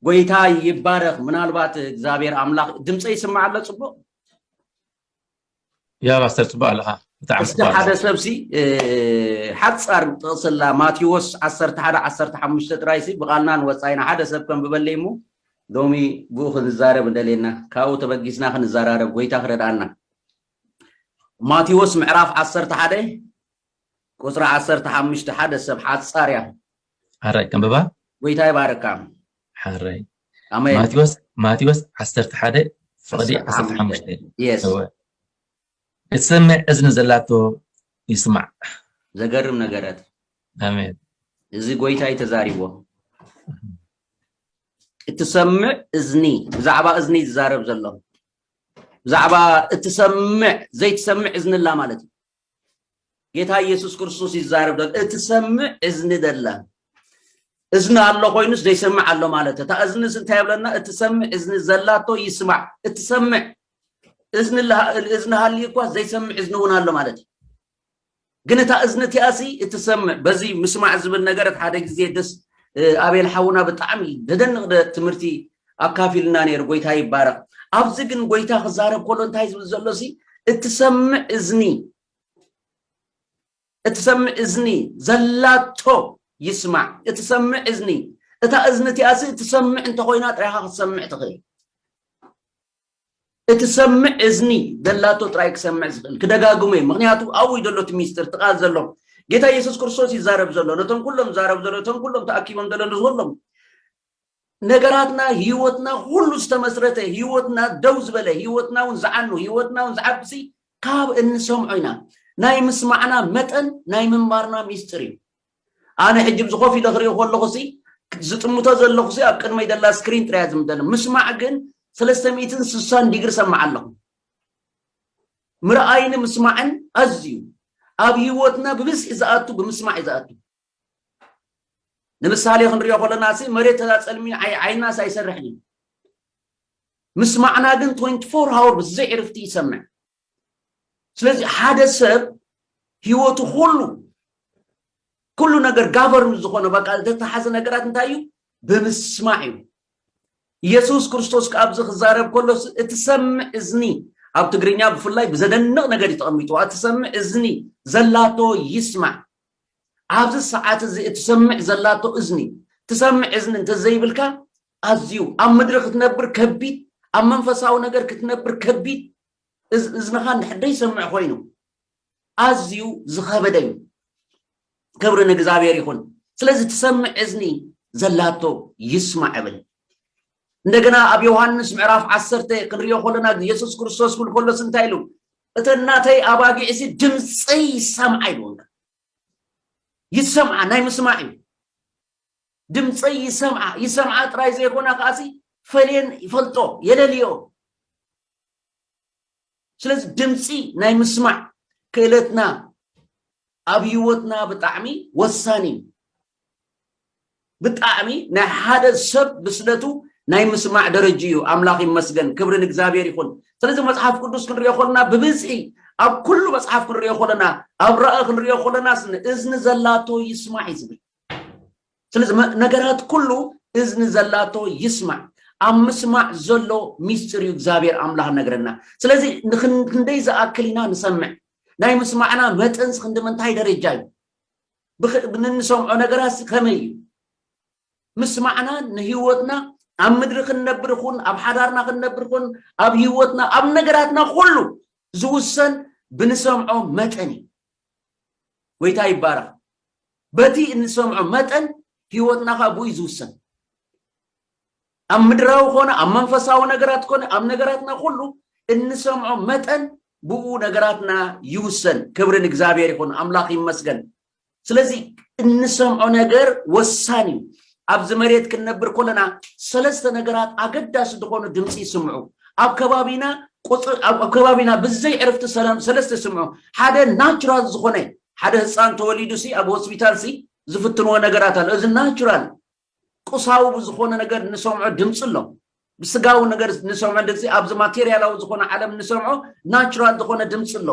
ጎይታ ይባረክ ምናልባት እግዚኣብሔር ኣምላክ ድምፀ ይስማዕ ኣሎ ፅቡቅ ያ ፓስተር ፅቡቅ ኣለካ እስቲ ሓደ ሰብሲ ሓፃር ጥቕስላ ማቴዎስ 11 15 ጥራይሲ ብቓልናን ወፃኢና ሓደ ሰብ ከንብበለይ እሞ ሎሚ ብኡ ክንዛረብ እንደልየና ካብኡ ተበጊስና ክንዘራረብ ጎይታ ክረድኣና ማቴዎስ ምዕራፍ 11 ቁጽሪ ዓሰርተ ሓሙሽተ ሓደ ሰብ ሓጻር እያ። ሓራይ ከንብባ። ጎይታ ይባርካ። ሓራይ ኣሜን። ማቴዎስ ማቴዎስ ዓሰርተ ሓደ ፍቕዲ ዓሰርተ ዓሰርተ ሓሙሽተ ሓሙሽተ። የስ እወ እትሰምዕ እዝኒ ዘላቶ ይስማዕ። ዘገርም ነገረት ኣሜን እዚ ጎይታ እዩ ተዛሪቦ። እትሰምዕ እዝኒ ብዛዕባ እዝኒ እዩ ዝዛረብ ዘሎ ብዛዕባ እትሰምዕ ዘይትሰምዕ እዝኒ ኣላ ማለት እዩ። ጌታ ኢየሱስ ክርስቶስ ይዛረብ ዘሎ እትሰምዕ እዝኒ ደላ እዝኒ ኣሎ ኮይኑስ ዘይሰምዕ ኣሎ ማለት እታ እዝንስ እንታይ ብለና እትሰምዕ እዝኒ ዘላቶ ይስማዕ እትሰምዕ እዝኒ እዝኒ ሃልዩ እኳ ዘይሰምዕ እዝኒ እውን ኣሎ ማለት እዩ ግን እታ እዝኒ እቲኣሲ እትሰምዕ በዚ ምስማዕ ዝብል ነገር ሓደ ግዜ ደስ ኣቤል ሓውና ብጣዕሚ ደደንቕ ትምህርቲ ኣካፊሉና ነይሩ ጎይታ ይባረኽ ኣብዚ ግን ጎይታ ክዛረብ ከሎ እንታይ ዝብል ዘሎ ሲ እትሰምዕ እዝኒ እትሰምዕ እዝኒ ዘላቶ ይስማዕ እትሰምዕ እዝኒ እታ እዝኒ እቲኣ ሲ እትሰምዕ እንተኮይና ጥራይካ ክትሰምዕ ትኽእል እትሰምዕ እዝኒ ዘላቶ ጥራይ ክሰምዕ ዝኽእል ክደጋግሞ እዩ ምክንያቱ ኣብኡ እዩ ዘሎ እቲ ሚስጢር እቲ ቃል ዘሎ ጌታ ኢየሱስ ክርስቶስ ይዛረብ ዘሎ ነቶም ኩሎም ዛረብ ዘሎ እቶም ኩሎም ተኣኪቦም ዘሎ ንዝኩሎም ነገራትና ሂወትና ኩሉ ዝተመስረተ ሂወትና ደው ዝበለ ሂወትና ውን ዝዓኑ ሂወትና ውን ዝዓብሲ ካብ እንሰምዖ ኢና ናይ ምስማዕና መጠን ናይ ምንባርና ሚስጥር እዩ ኣነ ሕጂ ብዚ ኮፍ ኢለ ክሪኦ ከለኹ ሲ ዝጥምቶ ዘለኹ ሲ ኣብ ቅድመይ ዘላ ስክሪን ጥራያ ዝምደለ ምስማዕ ግን ሰለስተ ሚእትን ስሳን ዲግሪ ሰማዕ ኣለኹ ምርኣይን ምስማዕን ኣዝዩ ኣብ ሂወትና ብብዝሒ ዝኣቱ ብምስማዕ እዩ ዝኣቱ ንምሳሌ ክንሪኦ ከለና ሲ መሬት ተዛጸልሚ ዓይናስ ኣይሰርሕን እዩ ምስማዕና ግን 24 ሃወር ብዘይ ዕርፍቲ ይሰምዕ ስለዚ ሓደ ሰብ ህይወቱ ኩሉ ኩሉ ነገር ጋቨርን ዝኾነ በቃ ዝተተሓዘ ነገራት እንታይ እዩ ብምስማዕ እዩ ኢየሱስ ክርስቶስ ከዓ ኣብዚ ክዛረብ ከሎ እትሰምዕ እዝኒ ኣብ ትግርኛ ብፍላይ ብዘደንቕ ነገር እዩ ተቐሚጥዋ እትሰምዕ እዝኒ ዘላቶ ይስማዕ ኣብዚ ሰዓት እዚ እትሰምዕ ዘላቶ እዝኒ ትሰምዕ እዝኒ እንተዘይብልካ ኣዝዩ ኣብ ምድሪ ክትነብር ከቢድ ኣብ መንፈሳዊ ነገር ክትነብር ከቢድ እዝንኻ እንድሕር ዘይሰምዕ ኮይኑ ኣዝዩ ዝኸበደ እዩ ክብሪ ንእግዚኣብሔር ይኹን ስለዚ ትሰምዕ እዝኒ ዘላቶ ይስማዕ እብል እንደገና ኣብ ዮሃንስ ምዕራፍ ዓሰርተ ክንሪኦ ከለና የሱስ ክርስቶስ ክብል ከሎስ እንታይ ኢሉ እተን ናተይ ኣባጊዕሲ ድምፀይ ይሰምዓ ኢልዎም ይሰምዓ ናይ ምስማዕ እዩ ድምፀይ ይሰምዓ ይሰምዓ ጥራይ ዘይኮና ከዓሲ ፈልየን ይፈልጦ የለልዮ ስለዚ ድምፂ ናይ ምስማዕ ክእለትና ኣብ ሂወትና ብጣዕሚ ወሳኒ እዩ ብጣዕሚ ናይ ሓደ ሰብ ብስለቱ ናይ ምስማዕ ደረጅኡ እዩ ኣምላኽ ይመስገን ክብሪ ንእግዚኣብሔር ይኹን ስለዚ መጽሓፍ ቅዱስ ክንሪኦ ከለና ብብዝሒ ኣብ ኩሉ መጽሓፍ ክንሪኦ ከለና ኣብ ራኢ ክንሪኦ ከለናስ ንእዝኒ ዘላቶ ይስማዕ እዩ ዝብል ስለዚ ነገራት ኩሉ እዝኒ ዘላቶ ይስማዕ ኣብ ምስማዕ ዘሎ ሚስጢር እዩ እግዚኣብሔር ኣምላኽ ነግረና ስለዚ ንክንደይ ዝኣክል ኢና ንሰምዕ ናይ ምስማዕና መጠንስ ክንዲ ምንታይ ደረጃ እዩ ንሰምዖ ነገራት ከመይ እዩ ምስማዕና ንህይወትና ኣብ ምድሪ ክንነብር ይኹን ኣብ ሓዳርና ክንነብር ይኹን ኣብ ህይወትና ኣብ ነገራትና ኩሉ ዝውሰን ብንሰምዖ መጠን እዩ ጎይታ ይባረኽ በቲ እንሰምዖ መጠን ህይወትና ከዓ ብኡ ዝውሰን ኣብ ምድራዊ ኮነ ኣብ መንፈሳዊ ነገራት ኮነ ኣብ ነገራትና ኩሉ እንሰምዖ መጠን ብኡ ነገራትና ይውሰን ክብሪ ንእግዚኣብሔር ይኹን ኣምላኽ ይመስገን ስለዚ እንሰምዖ ነገር ወሳኒ እዩ ኣብዚ መሬት ክንነብር ከለና ሰለስተ ነገራት ኣገዳሲ ዝኾኑ ድምጺ ይስምዑ። ኣብ ከባቢና ቁጽሪ ኣብ ከባቢና ብዘይ ዕርፍቲ ሰለም ሰለስተ ይስምዑ። ሓደ ናቹራል ዝኾነ ሓደ ህጻን ተወሊዱ ሲ ኣብ ሆስፒታል ሲ ዝፍትንዎ ነገራት ኣሎ። እዚ ናቹራል ቁሳዊ ብዝኾነ ነገር ንሰምዖ ድምጺ ኣሎ። ብስጋዊ ነገር ንሰምዖ ድምጺ ኣብዚ ማቴሪያላዊ ዝኾነ ዓለም ንሰምዖ ናቹራል ዝኾነ ድምጺ ኣሎ።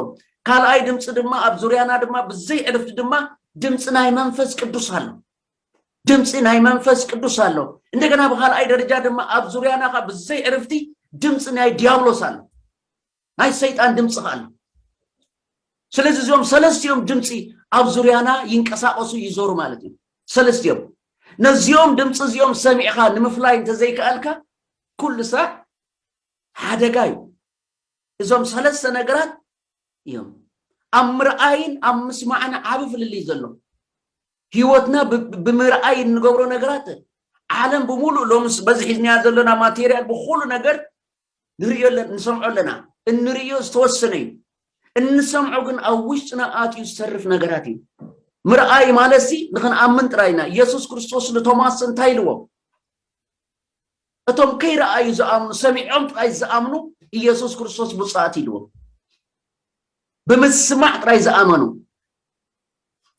ካልኣይ ድምጺ ድማ ኣብ ዙርያና ድማ ብዘይ ዕርፍቲ ድማ ድምጺ ናይ መንፈስ ቅዱስ ኣሎ። ድምፂ ናይ መንፈስ ቅዱስ ኣሎ እንደገና ብካልኣይ ደረጃ ድማ ኣብ ዙርያና ካ ብዘይ ዕርፍቲ ድምፂ ናይ ዲያብሎስ ኣሎ ናይ ሰይጣን ድምፂ ካ ኣሎ ስለዚ እዚኦም ሰለስቲኦም ድምፂ ኣብ ዙርያና ይንቀሳቀሱ ይዞሩ ማለት እዩ ሰለስቲኦም ነዚኦም ድምፂ እዚኦም ሰሚዕካ ንምፍላይ እንተዘይከኣልካ ኩሉ ስራሕ ሓደጋ እዩ እዞም ሰለስተ ነገራት እዮም ኣብ ምርኣይን ኣብ ምስማዕን ዓብ ፍልልይ ዘሎ ህይወትና ብምርኣይ እንገብሮ ነገራት ዓለም ብምሉእ ሎምስ በዚ ሒዝናያ ዘለና ማቴሪያል ብኩሉ ነገር ንርእዮ ንሰምዖ ኣለና እንርእዮ ዝተወሰነ እዩ እንሰምዖ ግን ኣብ ውሽጥና ኣትዩ ዝተርፍ ነገራት እዩ ምርኣይ ማለት ሲ ንክንኣምን ጥራይ ኢና ኢየሱስ ክርስቶስ ንቶማስ እንታይ ኢልዎ እቶም ከይረኣዩ ዝኣምኑ ሰሚዖም ጥራይ ዝኣምኑ ኢየሱስ ክርስቶስ ብፁዓት ኢልዎ ብምስማዕ ጥራይ ዝኣመኑ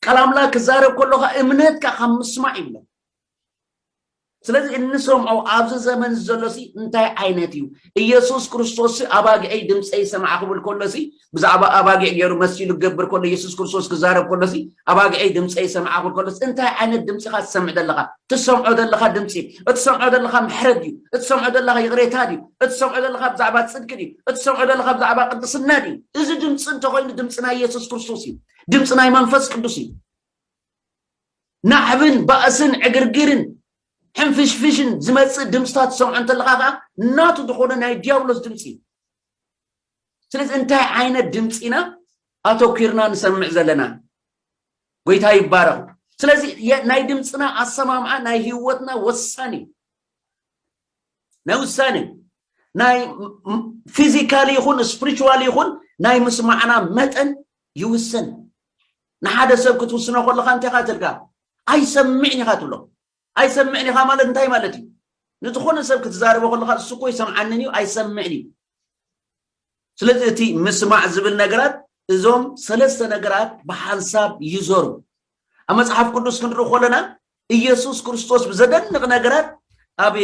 ቃል ኣምላክ ክዛረብ ከሎካ እምነትካ ካብ ምስማዕ ይብለን ስለዚ እንሰምዖ ኣብዚ ዘመን ዘሎ ሲ እንታይ ዓይነት እዩ ኢየሱስ ክርስቶስ ኣባግዐይ ድምፀይ ሰማዕ ክብል ከሎ ሲ ብዛዕባ ኣባጊዕ ገይሩ መሲሉ ክገብር ከሎ ኢየሱስ ክርስቶስ ክዛረብ ከሎ ሲ ኣባግዐይ ድምፀይ ሰማዕ ክብል ከሎ እንታይ ዓይነት ድምፂ ኢኻ ትሰምዕ ዘለኻ ትሰምዖ ዘለኻ ድምፂ እትሰምዖ ዘለኻ ምሕረት ድዩ እትሰምዖ ዘለኻ ይቕሬታ ድዩ እትሰምዖ ዘለኻ ብዛዕባ ፅድቂ ድዩ እትሰምዖ ዘለኻ ብዛዕባ ቅድስና ድዩ እዚ ድምፂ እንተኮይኑ ድምፂ ናይ ኢየሱስ ክርስቶስ እዩ ድምፂ ናይ መንፈስ ቅዱስ እዩ ናዕብን ባእስን ዕግርግርን ሕንፍሽፍሽን ዝመፅእ ድምፅታት ዝሰምዖ እንተለካ ከዓ ናቱ ዝኾነ ናይ ዲያብሎስ ድምፂ እዩ ስለዚ እንታይ ዓይነት ድምፂ ኢና ኣተኪርና ንሰምዕ ዘለና ጎይታ ይባረኹ ስለዚ ናይ ድምፅና ኣሰማምዓ ናይ ህይወትና ወሳኒ እዩ ናይ ውሳኔ እዩ ናይ ፊዚካሊ ይኹን ስፕሪቹዋል ይኹን ናይ ምስማዕና መጠን ይውስን ንሓደ ሰብ ክትውስኖ ከለካ እንታይ ካ ትልካ ኣይሰምዕን ኢኻ ትብሎ ኣይሰምዕን ኢኻ ማለት እንታይ ማለት እዩ ንዝኾነ ሰብ ክትዛረቦ ከለካ እሱ እኮ ይሰምዓንን እዩ ኣይሰምዕን እዩ ስለዚ እቲ ምስማዕ ዝብል ነገራት እዞም ሰለስተ ነገራት ብሓንሳብ ይዞሩ ኣብ መፅሓፍ ቅዱስ ክንርኢ ከለና ኢየሱስ ክርስቶስ ብዘደንቕ ነገራት ኣብ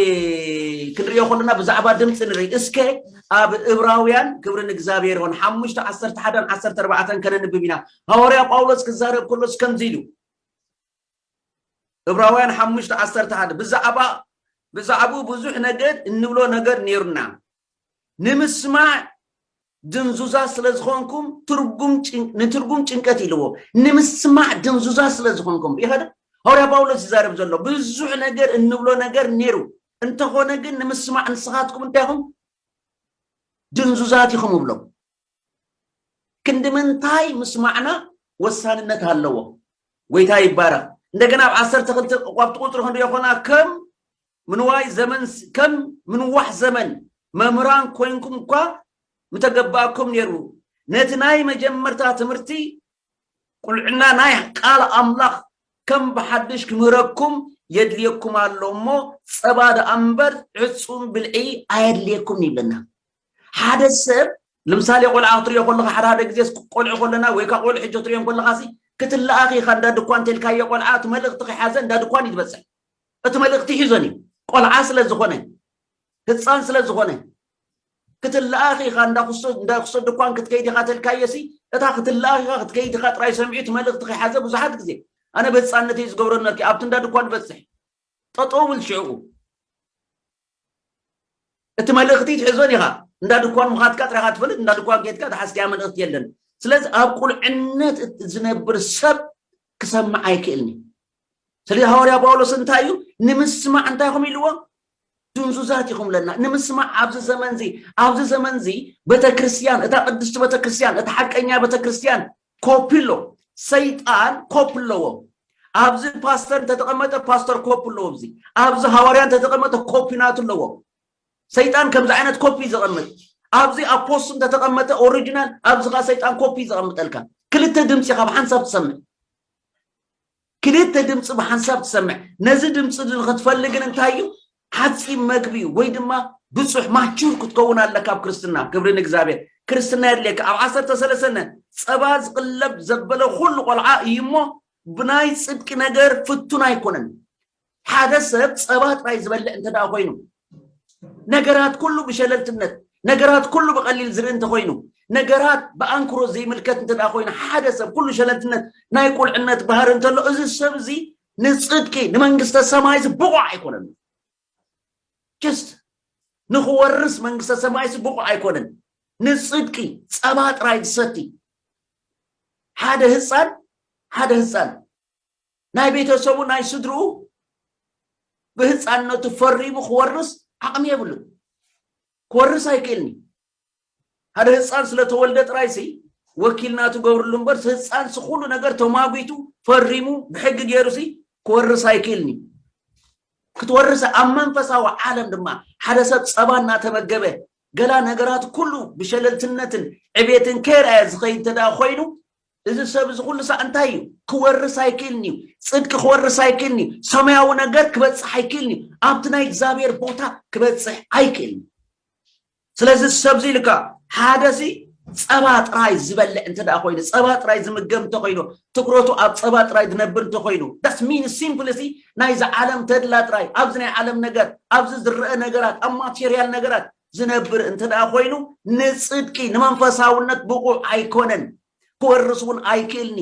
ክንሪኦ ከለና ብዛዕባ ድምፂ ንርኢ እስከ ኣብ እብራውያን ክብሪ ንእግዚኣብሔር ይኹን ሓሙሽተ ዓሰርተ ሓደን ዓሰርተ ኣርባዕተን ከነንብብ ኢና ሃዋርያ ጳውሎስ ክዛረብ ከሎስ ከምዚ ኢሉ እብራውያን ሓሙሽተ ዓሰርተ ሓደ ብዛዕባ ብዛዕባኡ ብዙሕ ነገር እንብሎ ነገር ነይሩና ንምስማዕ ድንዙዛት ስለ ዝኾንኩም ትርጉም ጭን- ንትርጉም ጭንቀት ኢልዎ ንምስማዕ ድንዙዛት ስለ ዝኾንኩም ኢኸ ዶ ሃዋርያ ጳውሎስ ይዛረብ ዘሎ ብዙሕ ነገር እንብሎ ነገር ነይሩ እንተኾነ ግን ንምስማዕ ንስኻትኩም እንታይ ኢኹም ድንዙዛት ኢኹም እብሎም ክንዲ ምንታይ ምስማዕና ወሳንነት ኣለዎ ጎይታ ይባረኽ እንደገና ኣብ ዓሰርተ ክልተ ቋብቲ ቁፅሪ ክንሪኦ ኮና ከም ምንዋይ ዘመን ከም ምንዋሕ ዘመን መምህራን ኮይንኩም እኳ ምተገበኣኩም ነይሩ። ነቲ ናይ መጀመርታ ትምህርቲ ቁልዕና ናይ ቃል ኣምላኽ ከም ብሓድሽ ክምህረኩም የድልየኩም ኣሎ እሞ ጸባ ደኣ እምበር ዕጹም ብልዒ ኣየድልየኩምን ይብለና። ሓደ ሰብ ንምሳሌ ቆልዓ ክትሪኦ ከለኻ ሓደ ሓደ ግዜስ ቆልዑ ከለና ወይ ካብ ቆልዑ ሕጂ ክትሪኦ ከለኻሲ ክትለኣኽ ኢኻ እንዳ ድኳን እንተልካዮ ቆልዓ እቲ መልእኽቲ ከይሓዘ እንዳ ድኳን እዩ ዝበጽሕ። እቲ መልእኽቲ ሒዞን እዩ ቆልዓ ስለ ዝኾነ ህጻን ስለ ዝኾነ ክትለኣኽ ኢኻ እንዳ ክሶ ድኳን ክትከይድ ኢኻ ተልካዮሲ እታ ክትለኣኽ ኢኻ ክትከይድ ኢኻ ጥራይ ሰሚዑ እቲ መልእኽቲ ከይሓዘ ብዙሓት ግዜ ኣነ ብህፃነተይ ዝገብሮ ነርኪ ኣብቲ እንዳ ድኳን በፅሕ ጠጠው ብል ሽዕኡ እቲ መልእኽቲ ትሕዞን ኢኻ እንዳ ድኳን ምኻትካ ጥራኻ ትፈልጥ እንዳ ድኳን ኬድካ ዝሓዝካያ መልእኽቲ የለን ስለዚ ኣብ ቁልዕነት ዝነብር ሰብ ክሰምዕ ኣይክእልን እዩ ስለዚ ሃዋርያ ጳውሎስ እንታይ እዩ ንምስማዕ እንታይ ኹም ኢልዎ ድንዙዛት ኢኹም ለና ንምስማዕ ኣብዚ ዘመን እዚ ኣብዚ ዘመን እዚ ቤተክርስትያን እታ ቅድስቲ ቤተክርስትያን እታ ሓቀኛ ቤተክርስትያን ኮፒ ኣሎ ሰይጣን ኮፒ ኣለዎ ኣብዚ ፓስተር እንተተቐመጠ ፓስተር ኮፒ ኣለዎ እዚ ኣብዚ ሃዋርያ እንተተቐመጠ ኮፒ ናቱ ኣለዎ ሰይጣን ከምዚ ዓይነት ኮፒ ዘቐምጥ ኣብዚ ኣብ ፖስት እንተተቐመጠ ኦሪጂናል ኣብዚ ከዓ ሰይጣን ኮፒ ዘቐምጠልካ ክልተ ድምፂ ካብ ሓንሳብ ትሰምዕ ክልተ ድምጺ ብሓንሳብ ትሰምዕ። ነዚ ድምጺ እዚ ንኽትፈሊ ግን እንታይ እዩ? ሓጺም መግቢ እዩ ወይ ድማ ብጹሕ ማቹር ክትከውን ኣለካ ኣብ ክርስትና። ክብሪ ንእግዚኣብሔር። ክርስትና የድልየካ። ኣብ ዓሰርተ ሰለሰነ ጸባ ዝቕለብ ዘበለ ኩሉ ቆልዓ እዩ እሞ ብናይ ጽድቂ ነገር ፍቱን ኣይኮነን። ሓደ ሰብ ጸባ ጥራይ ዝበልዕ እንተ ደኣ ኮይኑ፣ ነገራት ኩሉ ብሸለልትነት፣ ነገራት ኩሉ ብቐሊል ዝርኢ እንተ ኮይኑ፣ ነገራት ብኣንክሮ ዘይምልከት እንተ ደኣ ኮይኑ፣ ሓደ ሰብ ኩሉ ሸለልትነት ናይ ቁልዕነት ባህሪ እንተሎ፣ እዚ ሰብ እዚ ንጽድቂ ንመንግስተ ሰማይ እዚ ብቑዕ ኣይኮነን እዩ። ጀስት ንኽወርስ መንግስተ ሰማይ እዚ ብቑዕ ኣይኮነን። ንጽድቂ ጸባ ጥራይ ዝሰቲ ሓደ ህጻን ሓደ ህጻን ናይ ቤተሰቡ ናይ ስድርኡ ብህፃንነቱ ፈሪሙ ክወርስ ዓቕሚ የብሉን ክወርስ ኣይክእልን እዩ ሓደ ህፃን ስለተወልደ ጥራይ ሲ ወኪልና ትገብርሉ እምበር ህፃን ሲ ኩሉ ነገር ተማጒቱ ፈሪሙ ብሕጊ ገይሩ ሲ ክወርስ ኣይክእልን እዩ ክትወርሰ ኣብ መንፈሳዊ ዓለም ድማ ሓደ ሰብ ፀባ እናተመገበ ገላ ነገራት ኩሉ ብሸለልትነትን ዕቤትን ከይርኣየ ዝኸይድ እንተደኣ ኮይኑ እዚ ሰብ እዚ ኩሉ ሳዕ እንታይ እዩ ክወርስ ኣይክእልን እዩ ፅድቂ ክወርስ ኣይክእልን እዩ ሰማያዊ ነገር ክበፅሕ ኣይክእልን እዩ ኣብቲ ናይ እግዚኣብሔር ቦታ ክበፅሕ ኣይክእልን ስለዚ ሰብ እዚ ኢልካ ሓደ ሲ ፀባ ጥራይ ዝበልዕ እንተ ኮይኑ ፀባ ጥራይ ዝምገብ እንተ ኮይኑ ትኩረቱ ኣብ ፀባ ጥራይ ዝነብር እንተ ኮይኑ ዳስ ሚን ሲምፕል ሲ ናይዚ ዓለም ተድላ ጥራይ ኣብዚ ናይ ዓለም ነገር ኣብዚ ዝረአ ነገራት ኣብ ማቴሪያል ነገራት ዝነብር እንተ ደኣ ኮይኑ ንጽድቂ ንመንፈሳውነት ብቑዕ ኣይኮነን ክወርስ እውን ኣይክእልኒ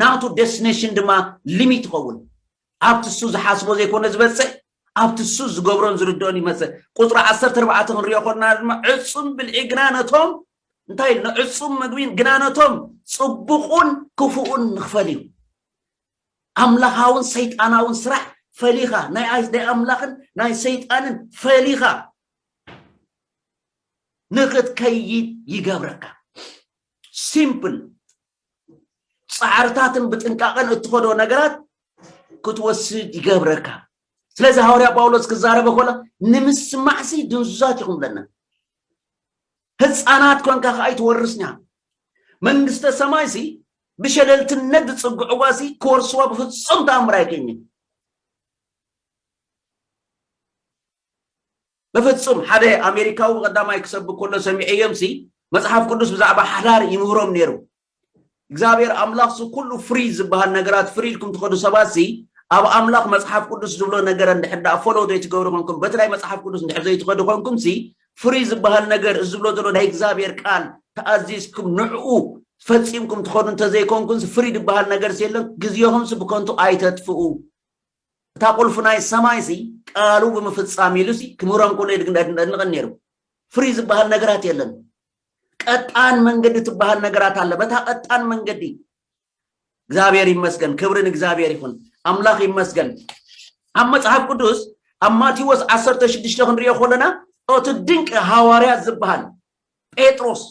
ናቱ ደስቲኔሽን ድማ ሊሚት ይኸውን ኣብቲ እሱ ዝሓስቦ ዘይኮነ ዝበጽሕ ኣብቲ እሱ ዝገብሮን ዝርድኦን ይመጽእ ቁፅሪ ዓሰርተ ኣርባዕተ ክንሪኦ ኮና ድማ ዕፁም ብልዒ ግና ነቶም እንታይ ኢሉ ንዕፁም ምግቢን ግና ነቶም ፅቡቑን ክፉኡን ንኽፈል እዩ ኣምላኻውን ሰይጣናውን ስራሕ ፈሊኻ ናይ ኣምላኽን ናይ ሰይጣንን ፈሊኻ ንኽትከይድ ይገብረካ ሲምፕል ጻዕርታትን ብጥንቃቐን እትኸዶ ነገራት ክትወስድ ይገብረካ ስለዚ ሃዋርያ ጳውሎስ ክዛረበ ኮሎ ንምስማዕሲ ድንዙዛት ኢኹም ብለና ህጻናት ኮንካ ከኣ ኣይትወርስኛ መንግስተ ሰማይ ሲ ብሸለልትነት ዝጽግዕዋ ሲ ክወርስዋ ብፍጹም ተኣምር ኣይከኝን ብፍጹም ሓደ ኣሜሪካዊ ብቀዳማይ ክሰብክ ከሎ ሰሚዐዮም ሲ መጽሓፍ ቅዱስ ብዛዕባ ሓዳር ይምህሮም ነይሩ እግዚኣብሔር ኣምላኽ እዚ ኩሉ ፍሪ ዝበሃል ነገራት ፍሪ ኢልኩም ትኸዱ ሰባት እዚ ኣብ ኣምላኽ መጽሓፍ ቅዱስ ዝብሎ ነገር እንድሕር ደኣ ፎሎው ዘይትገብሩ ኮንኩም በቲ ናይ መጽሓፍ ቅዱስ እንድሕር ዘይትኸዱ ኮንኩም ሲ ፍሪ ዝበሃል ነገር እዚ ዝብሎ ዘሎ ናይ እግዚኣብሔር ቃል ተኣዚዝኩም ንዕኡ ፈጺምኩም ትኸዱ እንተዘይኮንኩም ፍሪ ዝበሃል ነገር ሲ የለን ግዜኹም ሲ ብከንቱ ኣይተጥፍኡ እታ ቁልፊ ናይ ሰማይ ሲ ቃሉ ብምፍጻም ኢሉ ሲ ክምህሮም ከሎ የድንቕን ነይሩ ፍሪ ዝበሃል ነገራት የለን ቀጣን መንገዲ ትበሃል ነገራት ኣለ በታ ቀጣን መንገዲ እግዚኣብሔር ይመስገን ክብሪ ንእግዚኣብሔር ይኹን ኣምላኽ ይመስገን ኣብ መጽሓፍ ቅዱስ ኣብ ማቴዎስ 16 ክንሪኦ ከለና እቲ ድንቂ ሃዋርያት ዝበሃል ጴጥሮስ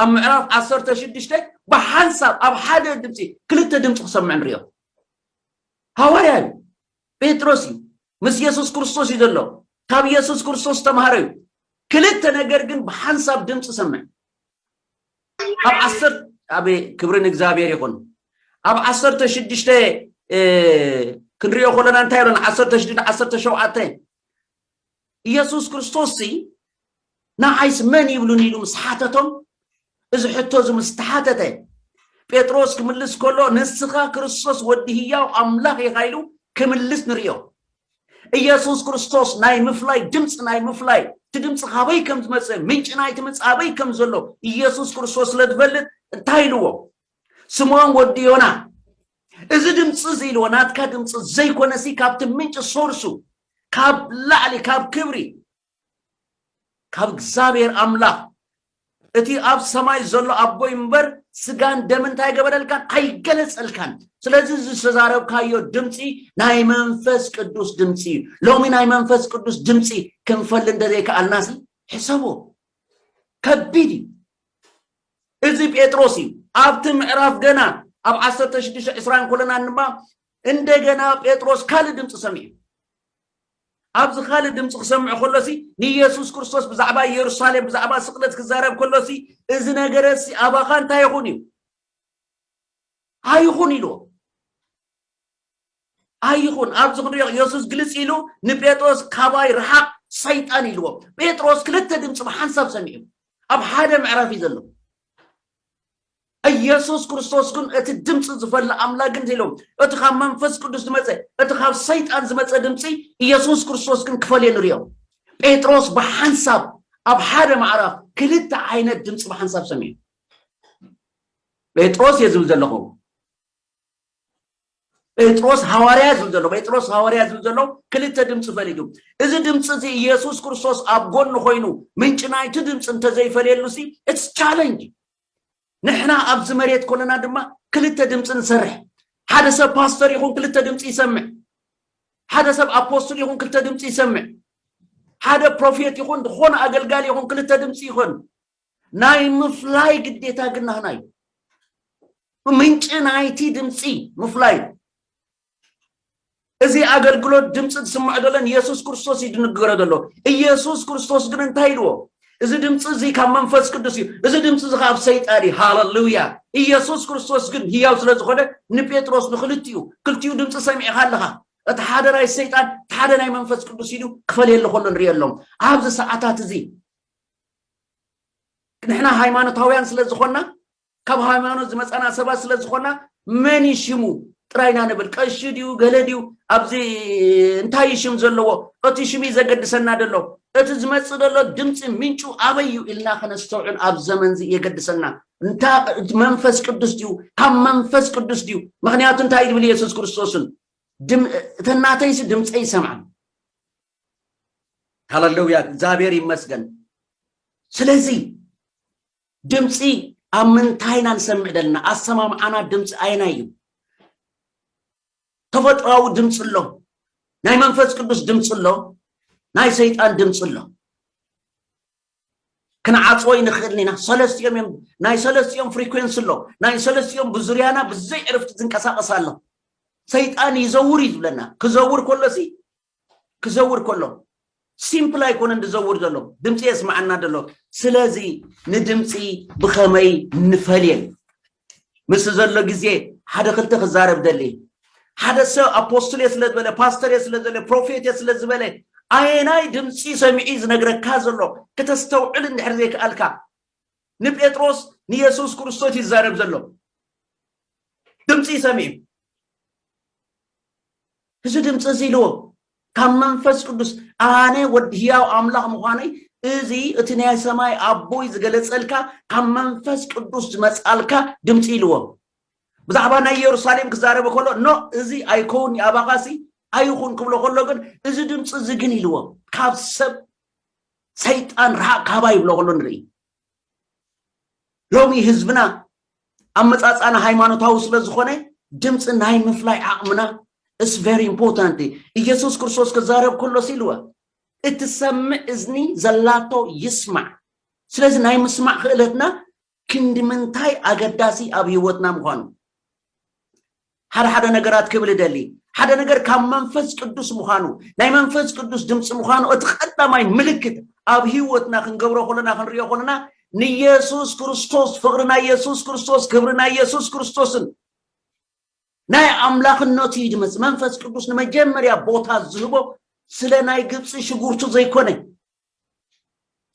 ኣብ ምዕራፍ 16 ብሓንሳብ ኣብ ሓደ ድምፂ ክልተ ድምፂ ክሰምዕ ንሪኦ ሃዋርያ እዩ ጴጥሮስ እዩ ምስ የሱስ ክርስቶስ እዩ ዘሎ ካብ የሱስ ክርስቶስ ዝተምሃረ እዩ ክልተ ነገር ግን ብሓንሳብ ድምፂ ሰምዕ ኣብ ዓሰር ኣብ ክብሪ ንእግዚኣብሔር ይኹን ኣብ ዓሰርተ ሽዱሽተ ክንሪኦ ከለና እንታይ ኢሎና ዓሰርተ ሽዱሽተ ዓሰርተ ሸውዓተ ኢየሱስ ክርስቶስሲ ንዓይስ መን ይብሉኒ ኢሉ ምስ ሓተቶም እዚ ሕቶ እዚ ምስ ተሓተተ ጴጥሮስ ክምልስ ከሎ ንስኻ ክርስቶስ ወዲ ህያው ኣምላኽ ኢኻ ኢሉ ክምልስ ንሪኦ ኢየሱስ ክርስቶስ ናይ ምፍላይ ድምፂ ናይ ምፍላይ እቲ ድምፂ ካበይ ከም ዝመፀ ምንጪ ናይቲ ምፅ ኣበይ ከም ዘሎ ኢየሱስ ክርስቶስ ስለ ዝፈልጥ እንታይ ኢልዎ ስምዖን ወዲ ዮና እዚ ድምፂ እዚ ኢልዎ ናትካ ድምፂ ዘይኮነሲ ካብቲ ምንጪ ሶርሱ ካብ ላዕሊ ካብ ክብሪ ካብ እግዚኣብሔር ኣምላኽ እቲ ኣብ ሰማይ ዘሎ ኣቦይ እምበር ስጋን ደምን እንታይ ገበረልካን ኣይገለጸልካን ስለዚ እዚ ዝተዛረብካዮ ድምፂ ናይ መንፈስ ቅዱስ ድምፂ እዩ ሎሚ ናይ መንፈስ ቅዱስ ድምፂ ክንፈል እንደዘይከኣልናሲ ሕሰቦ ከቢድ እዩ እዚ ጴጥሮስ እዩ ኣብቲ ምዕራፍ ገና ኣብ 16 20 ኮለና ድማ እንደገና ጴጥሮስ ካልእ ድምፂ ሰሚዑ ኣብዚ ካልእ ድምፂ ክሰምዕ ከሎ ሲ ንየሱስ ክርስቶስ ብዛዕባ ኢየሩሳሌም ብዛዕባ ስቕለት ክዛረብ ከሎ ሲ እዚ ነገረ ሲ ኣባኻ እንታይ ይኹን እዩ ኣይኹን ኢልዎ ኣይኹን ኣብዚ ክንሪኦ የሱስ ግልፂ ኢሉ ንጴጥሮስ ካባይ ረሓቕ ሰይጣን ኢልዎ ጴጥሮስ ክልተ ድምፂ ብሓንሳብ ሰሚዑ ኣብ ሓደ ምዕራፍ እዩ ዘሎ እየሱስ ክርስቶስ ግን እቲ ድምፂ ዝፈሊ ኣምላክ ግን ዘይሎም እቲ ካብ መንፈስ ቅዱስ ዝመፀ እቲ ካብ ሰይጣን ዝመፀ ድምፂ እየሱስ ክርስቶስ ግን ክፈልዮ ንሪኦ ጴጥሮስ ብሓንሳብ ኣብ ሓደ ማዕራፍ ክልተ ዓይነት ድምፂ ብሓንሳብ ሰሚዑ ጴጥሮስ እየ ዝብል ዘለኹ ጴጥሮስ ሃዋርያ ዝብል ዘሎ ጴጥሮስ ሃዋርያ ዝብል ዘሎ ክልተ ድምፂ ፈሊዱ እዚ ድምፂ እዚ እየሱስ ክርስቶስ ኣብ ጎኒ ኮይኑ ምንጭ ናይቲ ድምፂ እንተዘይፈልየሉ ሲ እትስ ቻለንጅ ንሕና ኣብዚ መሬት ኮለና ድማ ክልተ ድምፂ ንሰርሕ ሓደ ሰብ ፓስተር ይኹን ክልተ ድምፂ ይሰምዕ ሓደ ሰብ ኣፖስትል ይኹን ክልተ ድምፂ ይሰምዕ ሓደ ፕሮፌት ይኹን ዝኾነ ኣገልጋሊ ይኹን ክልተ ድምፂ ይኹን ናይ ምፍላይ ግዴታ ግን ናህና እዩ ምንጭ ናይቲ ድምፂ ምፍላይ እዩ እዚ ኣገልግሎት ድምፂ ዝስምዖ ዘሎ ንየሱስ ክርስቶስ እዩ ድንገሮ ዘሎ ኢየሱስ ክርስቶስ ግን እንታይ ኢልዎ እዚ ድምፂ እዚ ካብ መንፈስ ቅዱስ እዩ እዚ ድምፂ እዚ ካብ ሰይጣን እዩ ሃለሉያ ኢየሱስ ክርስቶስ ግን ህያው ስለ ዝኾነ ንጴጥሮስ ንክልቲኡ ክልቲኡ ድምፂ ሰሚዕኻ ኣለኻ እቲ ሓደ ናይ ሰይጣን እቲ ሓደ ናይ መንፈስ ቅዱስ ኢሉ ክፈልየሉ ከሎ ንሪኦ ኣሎም ኣብዚ ሰዓታት እዚ ንሕና ሃይማኖታውያን ስለ ዝኾንና ካብ ሃይማኖት ዝመፃና ሰባት ስለ ዝኾና መን እዩ ሽሙ ጥራይ ኢና ንብል ቀሺ ድዩ ገለ ድዩ ኣብዚ እንታይ እዩ ሽም ዘለዎ እቲ ሽም እዩ ዘገድሰና ደሎ እቲ ዝመፅእ ደሎ ድምፂ ምንጩ ኣበይ እዩ ኢልና ከነስተውዕል ኣብ ዘመን እዚ የገድሰና እንታ መንፈስ ቅዱስ ድዩ ካብ መንፈስ ቅዱስ ድዩ ምክንያቱ እንታይ እዩ ዝብል የሱስ ክርስቶስን እተን ናተይሲ ድምፀይ ይሰምዓን ሃለሉያ እግዚኣብሔር ይመስገን ስለዚ ድምፂ ኣብ ምንታይ ኢና ንሰምዕ ዘለና? ኣሰማምዓና ድምፂ ኣየናይ እዩ? ተፈጥሯዊ ድምፂ ኣሎ፣ ናይ መንፈስ ቅዱስ ድምፂ ኣሎ፣ ናይ ሰይጣን ድምፂ ኣሎ። ክንዓፅዎ ይንኽእል ኢና ሰለስቲኦም እዮም ናይ ሰለስቲኦም ፍሪኮንሲ ኣሎ ናይ ሰለስቲኦም ብዙርያና ብዘይ ዕርፍቲ ዝንቀሳቐስ ኣሎ ሰይጣን ይዘውር እዩ ዝብለና ክዘውር ከሎሲ ክዘውር ከሎ ሲምፕል ኣይኮነን ዝዘውር ዘሎ ድምፂ የስማዓና ዘሎ ስለዚ ንድምፂ ብኸመይ ንፈልየን ምስ ዘሎ ግዜ ሓደ ክልተ ክዛረብ ደሊ ሓደ ሰብ ኣፖስትል እየ ስለ ዝበለ ፓስተር እየ ስለ ዝበለ ፕሮፌት እየ ስለ ዝበለ ኣየናይ ድምፂ ሰሚዒ ዝነግረካ ዘሎ ክተስተውዕል እንድሕር ዘይከኣልካ ንጴጥሮስ ንየሱስ ክርስቶስ ይዛረብ ዘሎ ድምፂ ሰሚዑ እዚ ድምፂ እዚ ኢልዎ ካብ መንፈስ ቅዱስ ኣነ ወዲ ህያው ኣምላኽ ምዃነይ እዚ እቲ ናይ ሰማይ ኣቦይ ዝገለጸልካ ካብ መንፈስ ቅዱስ ዝመጻልካ ድምፂ ኢልዎ ብዛዕባ ናይ ኢየሩሳሌም ክዛረበ ከሎ ኖ እዚ ኣይከውን ኣባኻሲ ኣይኹን ክብሎ ከሎ ግን እዚ ድምፂ እዚ ግን ኢልዎ ካብ ሰብ ሰይጣን ርሓቅ ካባ ይብሎ ከሎ ንርኢ ሎሚ ህዝብና ኣመፃፅኣና ሃይማኖታዊ ስለ ዝኾነ ድምፂ ናይ ምፍላይ ዓቕምና እስ ቨሪ ኢምፖርታንት ኢየሱስ ክርስቶስ ክዛረብ ከሎስ ኢልወ እትሰምዕ እዝኒ ዘላቶ ይስማዕ ስለዚ ናይ ምስማዕ ክእለትና ክንዲ ምንታይ ኣገዳሲ ኣብ ህይወትና ምዃኑ ሓደ ሓደ ነገራት ክብል እደሊ ሓደ ነገር ካብ መንፈስ ቅዱስ ምዃኑ ናይ መንፈስ ቅዱስ ድምፂ ምዃኑ እቲ ቀዳማይ ምልክት ኣብ ህይወትና ክንገብሮ ከለና ክንሪኦ ከለና ንየሱስ ክርስቶስ ፍቕሪ ናይ የሱስ ክርስቶስ ክብሪ ናይ የሱስ ክርስቶስን ናይ ኣምላኽነቱ እዩ ድመፅ መንፈስ ቅዱስ ንመጀመርያ ቦታ ዝህቦ ስለ ናይ ግብፂ ሽጉርቱ ዘይኮነ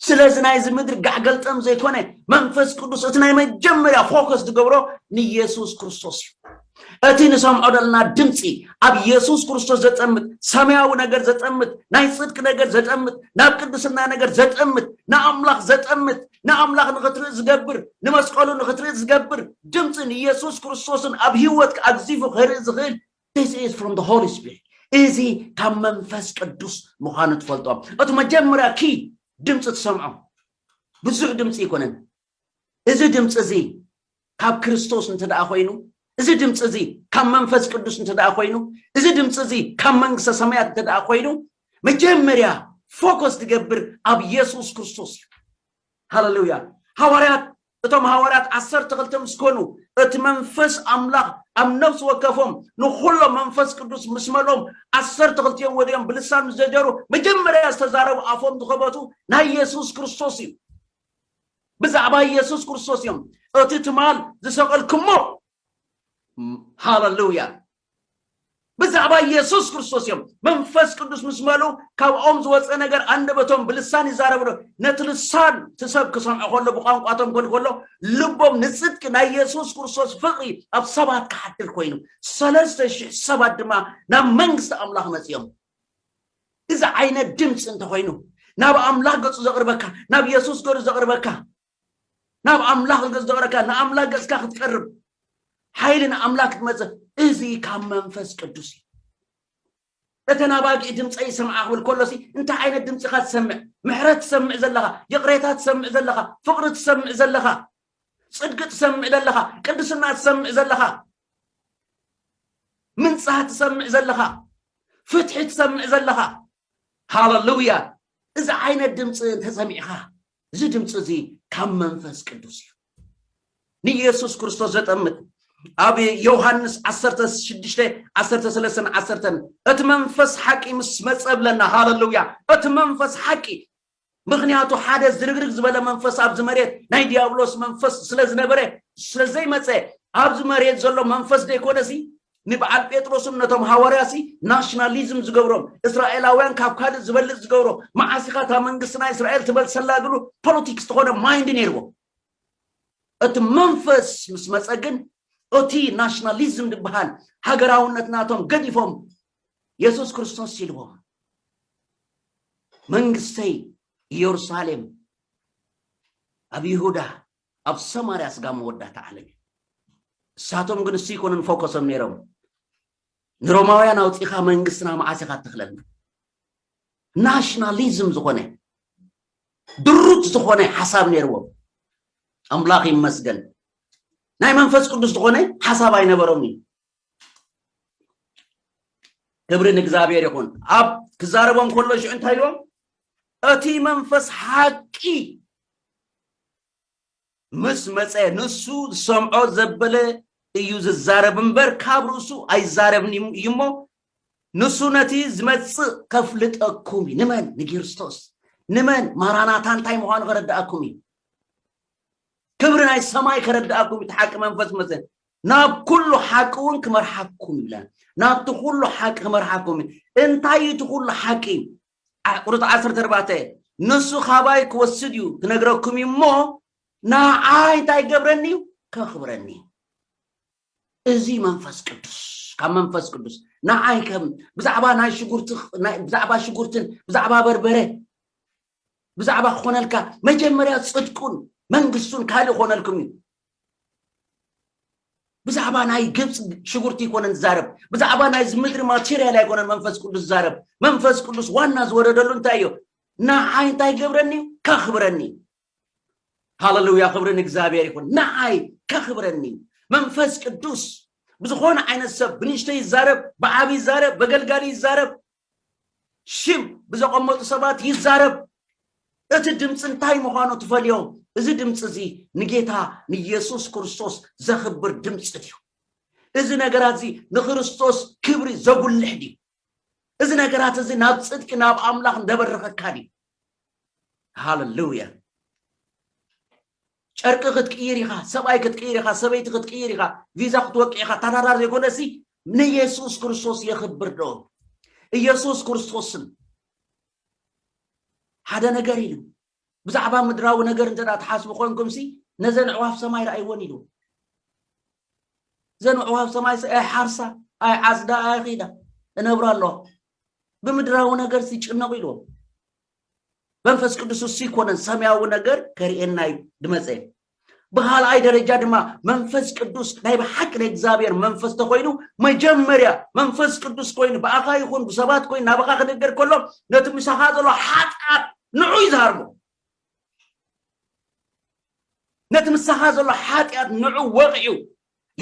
ስለዚ ናይዚ ምድሪ ጋዕገልጠም ዘይኮነ መንፈስ ቅዱስ እቲ ናይ መጀመርያ ፎከስ ዝገብሮ ንየሱስ ክርስቶስ እዩ እቲ ንሰምዖ ዘለና ድምፂ ኣብ የሱስ ክርስቶስ ዘጠምት ሰማያዊ ነገር ዘጠምት ናይ ፅድቂ ነገር ዘጠምት ናብ ቅድስና ነገር ዘጠምት ንኣምላኽ ዘጠምት ንኣምላኽ ንኽትርኢ ዝገብር ንመስቀሉ ንኽትርኢ ዝገብር ድምፂን የሱስ ክርስቶስን ኣብ ሂወትካ ኣግዚፉ ክርኢ ዝኽእል This is from the Holy Spirit. እዚ ካብ መንፈስ ቅዱስ ምዃኑ ትፈልጦ እቲ መጀመርያ ኪ ድምፂ ትሰምዖ ብዙሕ ድምፂ ኣይኮነን እዚ ድምፂ እዚ ካብ ክርስቶስ እንተ ደኣ ኮይኑ እዚ ድምፂ እዚ ካብ መንፈስ ቅዱስ እንተ ደኣ ኮይኑ እዚ ድምፂ እዚ ካብ መንግስተ ሰማያት እንተ ደኣ ኮይኑ መጀመርያ ፎከስ ትገብር ኣብ የሱስ ክርስቶስ እዩ ሃለሉያ ሃዋርያት እቶም ሃዋርያት ዓሰርተ ክልተ ምስ ኮኑ እቲ መንፈስ ኣምላኽ ኣብ ነፍሲ ወከፎም ንኹሎም መንፈስ ቅዱስ ምስ መልኦም ዓሰርተ ክልቲኦም ወዲኦም ብልሳን ምስ ጀጀሩ መጀመርያ ዝተዛረቡ ኣፎም ዝኸበቱ ናይ የሱስ ክርስቶስ እዩ ብዛዕባ የሱስ ክርስቶስ እዮም እቲ ትማል ዝሰቐልክሞ ሃለሉያ ብዛዕባ ኢየሱስ ክርስቶስ እዮም። መንፈስ ቅዱስ ምስ መልኡ ካብኦም ዝወፀ ነገር ኣንደበቶም ብልሳን ይዛረብ ኣሎ። ነቲ ልሳን እቲ ሰብ ክሰምዖ ከሎ ብቋንቋቶም ኮን ከሎ ልቦም ንፅድቂ ናይ ኢየሱስ ክርስቶስ ፍቕሪ ኣብ ሰባት ክሓድር ኮይኑ ሰለስተ ሽሕ ሰባት ድማ ናብ መንግስቲ ኣምላኽ መፅኦም። እዚ ዓይነት ድምፂ እንተኮይኑ ናብ ኣምላኽ ገፁ ዘቕርበካ ናብ ኢየሱስ ገሩ ዘቕርበካ ናብ ኣምላኽ ዝገዝተኦረካ ንኣምላኽ ገጽካ ክትቀርብ ሓይሊ ንኣምላኽ ክትመጽእ እዚ ካብ መንፈስ ቅዱስ እዩ እተን ኣባጊዕ ድምፀይ ይሰምዓ ክብል ከሎሲ እንታይ ዓይነት ድምፂ ኢኻ ትሰምዕ ምሕረት ትሰምዕ ዘለኻ ይቕሬታ ትሰምዕ ዘለኻ ፍቕሪ ትሰምዕ ዘለኻ ፅድቂ ትሰምዕ ዘለኻ ቅድስና ትሰምዕ ዘለኻ ምንፃህ ትሰምዕ ዘለኻ ፍትሒ ትሰምዕ ዘለኻ ሃለሉያ እዚ ዓይነት ድምፂ እንተሰሚዕኻ እዚ ድምፂ እዚ ካብ መንፈስ ቅዱስ እዩ ንኢየሱስ ክርስቶስ ዘጠምት ኣብ ዮሃንስ 16 13 10 እቲ መንፈስ ሓቂ ምስ መፀ ብለና ሃለሉያ እቲ መንፈስ ሓቂ ምክንያቱ ሓደ ዝርግርግ ዝበለ መንፈስ ኣብዚ መሬት ናይ ዲያብሎስ መንፈስ ስለ ዝነበረ ስለ ዘይመፀ ኣብዚ መሬት ዘሎ መንፈስ ዘይኮነ ሲ ንበዓል ጴጥሮስን ነቶም ሃዋርያሲ ናሽናሊዝም ዝገብሮም እስራኤላውያን ካብ ካልእ ዝበልጽ ዝገብሮ መዓስ ኢኻ እታ መንግስቲ ናይ እስራኤል ትበል ሰላግሉ ፖለቲክስ ዝኾነ ማይንድ ነይርዎ እቲ መንፈስ ምስ መፀ ግን እቲ ናሽናሊዝም ዝበሃል ሃገራውነት ናቶም ገዲፎም የሱስ ክርስቶስ ኢልዎም መንግስተይ ኢየሩሳሌም ኣብ ይሁዳ ኣብ ሰማርያ ስጋብ መወዳእታ ዓለም እዩ። እሳቶም ግን እሱ ይኮንን ፎከሶም ነይሮም ንሮማውያን ኣውፂኻ መንግስትና መዓስ ኢኻ እትኽለልና ናሽናሊዝም ዝኾነ ድሩት ዝኾነ ሓሳብ ነይርዎም ኣምላኽ ይመስገን ናይ መንፈስ ቅዱስ ዝኾነ ሓሳብ ኣይነበሮም እዩ ክብሪ ንእግዚኣብሔር ይኹን ኣብ ክዛረቦም ከሎ ሽዑ እንታይ ኢልዎም እቲ መንፈስ ሓቂ ምስ መፀ ንሱ ዝሰምዖ ዘበለ እዩ ዝዛረብ እምበር ካብ ርእሱ ኣይዛረብን እዩ እሞ ንሱ ነቲ ዝመፅእ ከፍልጠኩም እዩ ንመን ንኪርስቶስ ንመን ማራናታ እንታይ ምዃኑ ከረድኣኩም እዩ ክብሪ ናይ ሰማይ ከረድኣኩም እዩ እቲ ሓቂ መንፈስ መፀ ናብ ኩሉ ሓቂ ውን ክመርሓኩም ይብለን ናብቲ ኩሉ ሓቂ ክመርሓኩም እዩ እንታይ እዩ እቲ ኩሉ ሓቂ ቁርፅ ዓሰርተ ኣርባዕተ ንሱ ካባይ ክወስድ እዩ ክነግረኩም እዩ እሞ ንዓይ እንታይ ገብረኒ እዩ ከኽብረኒ እዩ እዚ መንፈስ ቅዱስ ካብ መንፈስ ቅዱስ ንዓይ ከም ብዛዕባ ናይ ሽጉርቲ ብዛዕባ ሽጉርትን ብዛዕባ በርበረ ብዛዕባ ክኾነልካ መጀመርያ ጽድቁን መንግስቱን ካልእ ክኾነልኩም እዩ ብዛዕባ ናይ ግብፂ ሽጉርቲ ይኮነን ዝዛረብ ብዛዕባ ናይ ምድሪ ማቴሪያል ኣይኮነን መንፈስ ቅዱስ ዝዛረብ መንፈስ ቅዱስ ዋና ዝወረደሉ እንታይ እዩ ንዓይ እንታይ ገብረኒ ከኽብረኒ ሃለሉያ ክብሪ ንእግዚኣብሔር ይኹን ንዓይ ከኽብረኒ መንፈስ ቅዱስ ብዝኾነ ዓይነት ሰብ ብንእሽተይ ይዛረብ ብዓብ ይዛረብ በገልጋሊ ይዛረብ ሽም ብዘቐመጡ ሰባት ይዛረብ። እቲ ድምፂ እንታይ ምዃኑ ትፈልዮ? እዚ ድምፂ እዚ ንጌታ ንየሱስ ክርስቶስ ዘኽብር ድምፂ ድዩ? እዚ ነገራት እዚ ንክርስቶስ ክብሪ ዘጉልሕ ድዩ? እዚ ነገራት እዚ ናብ ፅድቂ ናብ ኣምላኽ እንደበረኸካ ድዩ? ሃለሉያ! ጨርቂ ክትቅይር ኢኻ፣ ሰብኣይ ክትቅይር ኢኻ፣ ሰበይቲ ክትቅይር ኢኻ፣ ቪዛ ክትወቅዕ ኢኻ፣ ተራራ ዘይኮነሲ ንየሱስ ክርስቶስ የኽብር ዶ? ኢየሱስ ክርስቶስን ሓደ ነገር ኢሉ ብዛዕባ ምድራዊ ነገር እንተ ትሓስቡ ኮንኩምሲ ነዘን ኣዕዋፍ ሰማይ ረኣይወን ኢሉ እዘን ኣዕዋፍ ሰማይ ኣይሓርሳ ኣይዓፅዳ ኣይኺዳ እነብራ ኣለዋ ብምድራዊ ነገር ዝጭነቑ ኢልዎም መንፈስ ቅዱስ እሱ ይኮነን ሰማያዊ ነገር ከርእየና እዩ ድመፀ ብካልኣይ ደረጃ ድማ መንፈስ ቅዱስ ናይ ብሓቂ ናይ እግዚኣብሔር መንፈስ ተኮይኑ መጀመርያ መንፈስ ቅዱስ ኮይኑ ብኣኻ ይኹን ብሰባት ኮይኑ ናብኻ ክንገር ከሎ ነቲ ምሳኻ ዘሎ ሓጣር ንዑ ይዝሃርሞ ነቲ ምሳኻ ዘሎ ሓጢኣት ንዑ ወቕዑ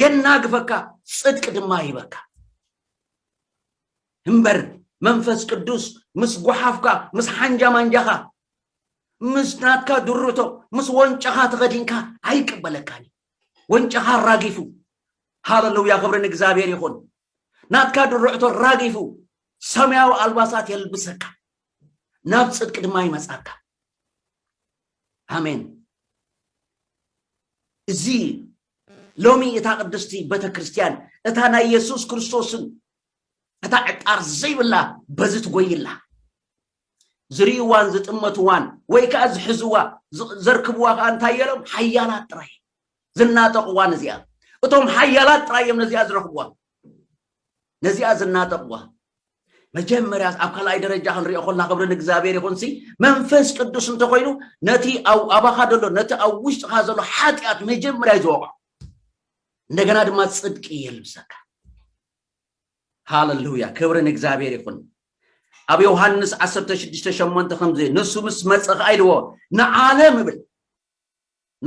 የናግፈካ ፅድቂ ድማ ይበካ እምበር መንፈስ ቅዱስ ምስ ጓሓፍካ ምስ ሓንጃ ማንጃኻ ምስ ናትካ ድርቶ ምስ ወንጨኻ ተኸዲንካ ኣይቅበለካን እዩ ወንጨኻ ኣራጊፉ ሃለሉያ ክብሪ ንእግዚኣብሔር ይኹን ናትካ ድርዕቶ ኣራጊፉ ሰማያዊ ኣልባሳት የልብሰካ ናብ ጽድቂ ድማ ይመጻካ ኣሜን እዚ ሎሚ እታ ቅድስቲ ቤተ ክርስቲያን እታ ናይ የሱስ ክርስቶስን እታ ዕጣር ዘይብላ በዚ ትጎይላ ዝርእይዋን ዝጥመትዋን ወይ ከዓ ዝሕዝዋ ዘርክብዋ ከዓ እንታይ የሎም ሓያላት ጥራይ ዝናጠቕዋ ነዚኣ እቶም ሓያላት ጥራይ እዮም ነዚኣ ዝረኽብዋ ነዚኣ ዝናጠቕዋ መጀመርያ ኣብ ካልኣይ ደረጃ ክንሪኦ ኮልና ክብሪ ንእግዚኣብሔር ይኹንሲ መንፈስ ቅዱስ እንተኮይኑ ነቲ ኣባኻ ዘሎ ነቲ ኣብ ውሽጥኻ ዘሎ ሓጢኣት መጀመርያ እዩ ዝወቕዖ እንደገና ድማ ፅድቂ የልብሰካ ሃለሉያ ክብሪ ንእግዚኣብሔር ይኹን ኣብ ዮሃንስ ዓሰርተ ሽዱሽተ ሸሞንተ ከምዚ ንሱ ምስ መፀ ከዓ ኢልዎ ንዓለም እብል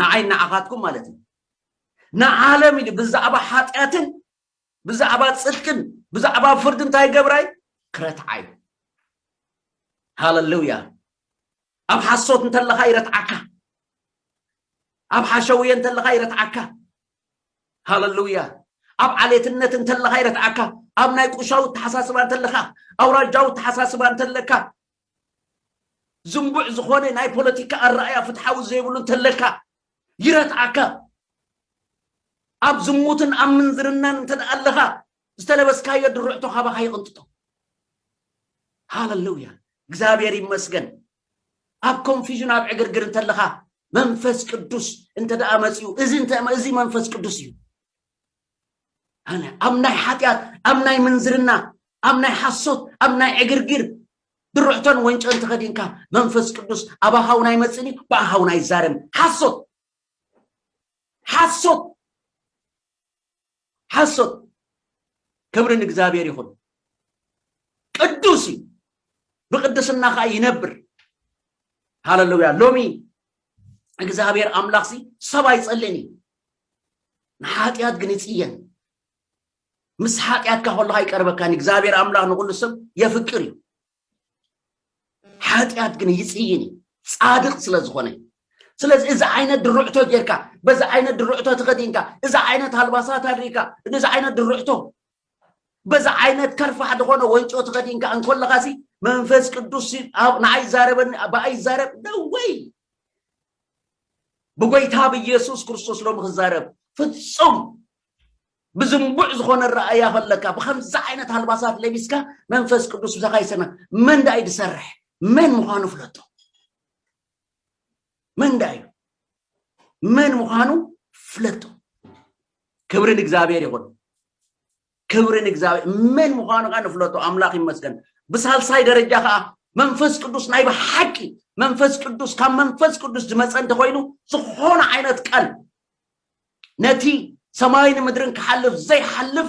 ንዓይ ንዓኻትኩም ማለት እዩ ንዓለም ኢሉ ብዛዕባ ሓጢኣትን ብዛዕባ ፅድቅን ብዛዕባ ፍርዲ እንታይ ገብራይ ክረትዓይ ሃለሉያ ኣብ ሓሶት እንተለኻ ይረትዓካ ኣብ ሓሸውየ እንተለኻ ይረትዓካ ሃለሉያ ኣብ ዓሌትነት እንተለኻ ይረትዓካ ኣብ ናይ ቁሻዊ ተሓሳስባ እንተለኻ ኣውራጃዊ ተሓሳስባ እንተለካ ዝንቡዕ ዝኾነ ናይ ፖለቲካ ኣረኣያ ፍትሓዊ ዘይብሉ እንተለካ ይረትዓካ ኣብ ዝሙትን ኣብ ምንዝርናን እንተ ኣለኻ ዝተለበስካዮ ድርዕቶ ካባኻ ይቕንጥጦ ሃለሉያ እግዚኣብሔር ይመስገን ኣብ ኮንፊዥን ኣብ ዕግርግር እንተለኻ መንፈስ ቅዱስ እንተ ደኣ መጺኡ እዚ እንተ እዚ መንፈስ ቅዱስ እዩ ኣነ ኣብ ናይ ሓጢኣት ኣብ ናይ ምንዝርና ኣብ ናይ ሓሶት ኣብ ናይ ዕግርግር ድርዕቶን ወንጨን ተኸዲንካ መንፈስ ቅዱስ ኣብ ኣሃውና ይመጽእን እዩ ብኣሃውና ይዛረብን ሓሶት ሓሶት ሓሶት ክብሪ ንእግዚኣብሔር ይኹን ቅዱስ እዩ ብቅድስና ከዓ ይነብር ሃለሉያ ሎሚ እግዚኣብሔር ኣምላኽ ሲ ሰብ ኣይጸልእን እዩ ንሓጢኣት ግን ይጽየን ምስ ሓጢኣትካ ከለካ ይቀርበካን እግዚኣብሔር ኣምላኽ ንኩሉ ሰብ የፍቅር እዩ ሓጢኣት ግን ይጽይን እዩ ጻድቅ ስለ ዝኾነ እዩ ስለዚ እዚ ዓይነት ድርዕቶ ጌርካ በዚ ዓይነት ድርዕቶ ተኸዲንካ እዚ ዓይነት ኣልባሳት ኣድሪካ እዚ ዓይነት ድርዕቶ በዚ ዓይነት ከርፋሕ ዝኾነ ወንጮ ተኸዲንካ እንኮለኻ ሲ መንፈስ ቅዱስ ንዓይ ይዛረበኒ ብኣይ ይዛረብ ደወይ ብጎይታ ብኢየሱስ ክርስቶስ ሎም ክዛረብ ፍጹም ብዝንቡዕ ዝኾነ ኣረኣእያ ከለካ ብከምዚ ዓይነት ኣልባሳት ለቢስካ መንፈስ ቅዱስ ብዛካ ይሰና መን ዳእዩ ዝሰርሕ መን ምዃኑ ፍለጦ መን ዳእዩ መን ምዃኑ ፍለጦ ክብሪ ንእግዚኣብሔር ይኹን ክብሪ ንእግዚኣብሔር መን ምዃኑ ከዓ ንፍለጦ ኣምላኽ ይመስገን ብሳልሳይ ደረጃ ከዓ መንፈስ ቅዱስ ናይ ብሓቂ መንፈስ ቅዱስ ካብ መንፈስ ቅዱስ ዝመፀ እንተኮይኑ ዝኾነ ዓይነት ቃል ነቲ ሰማይን ምድርን ክሓልፍ ዘይሓልፍ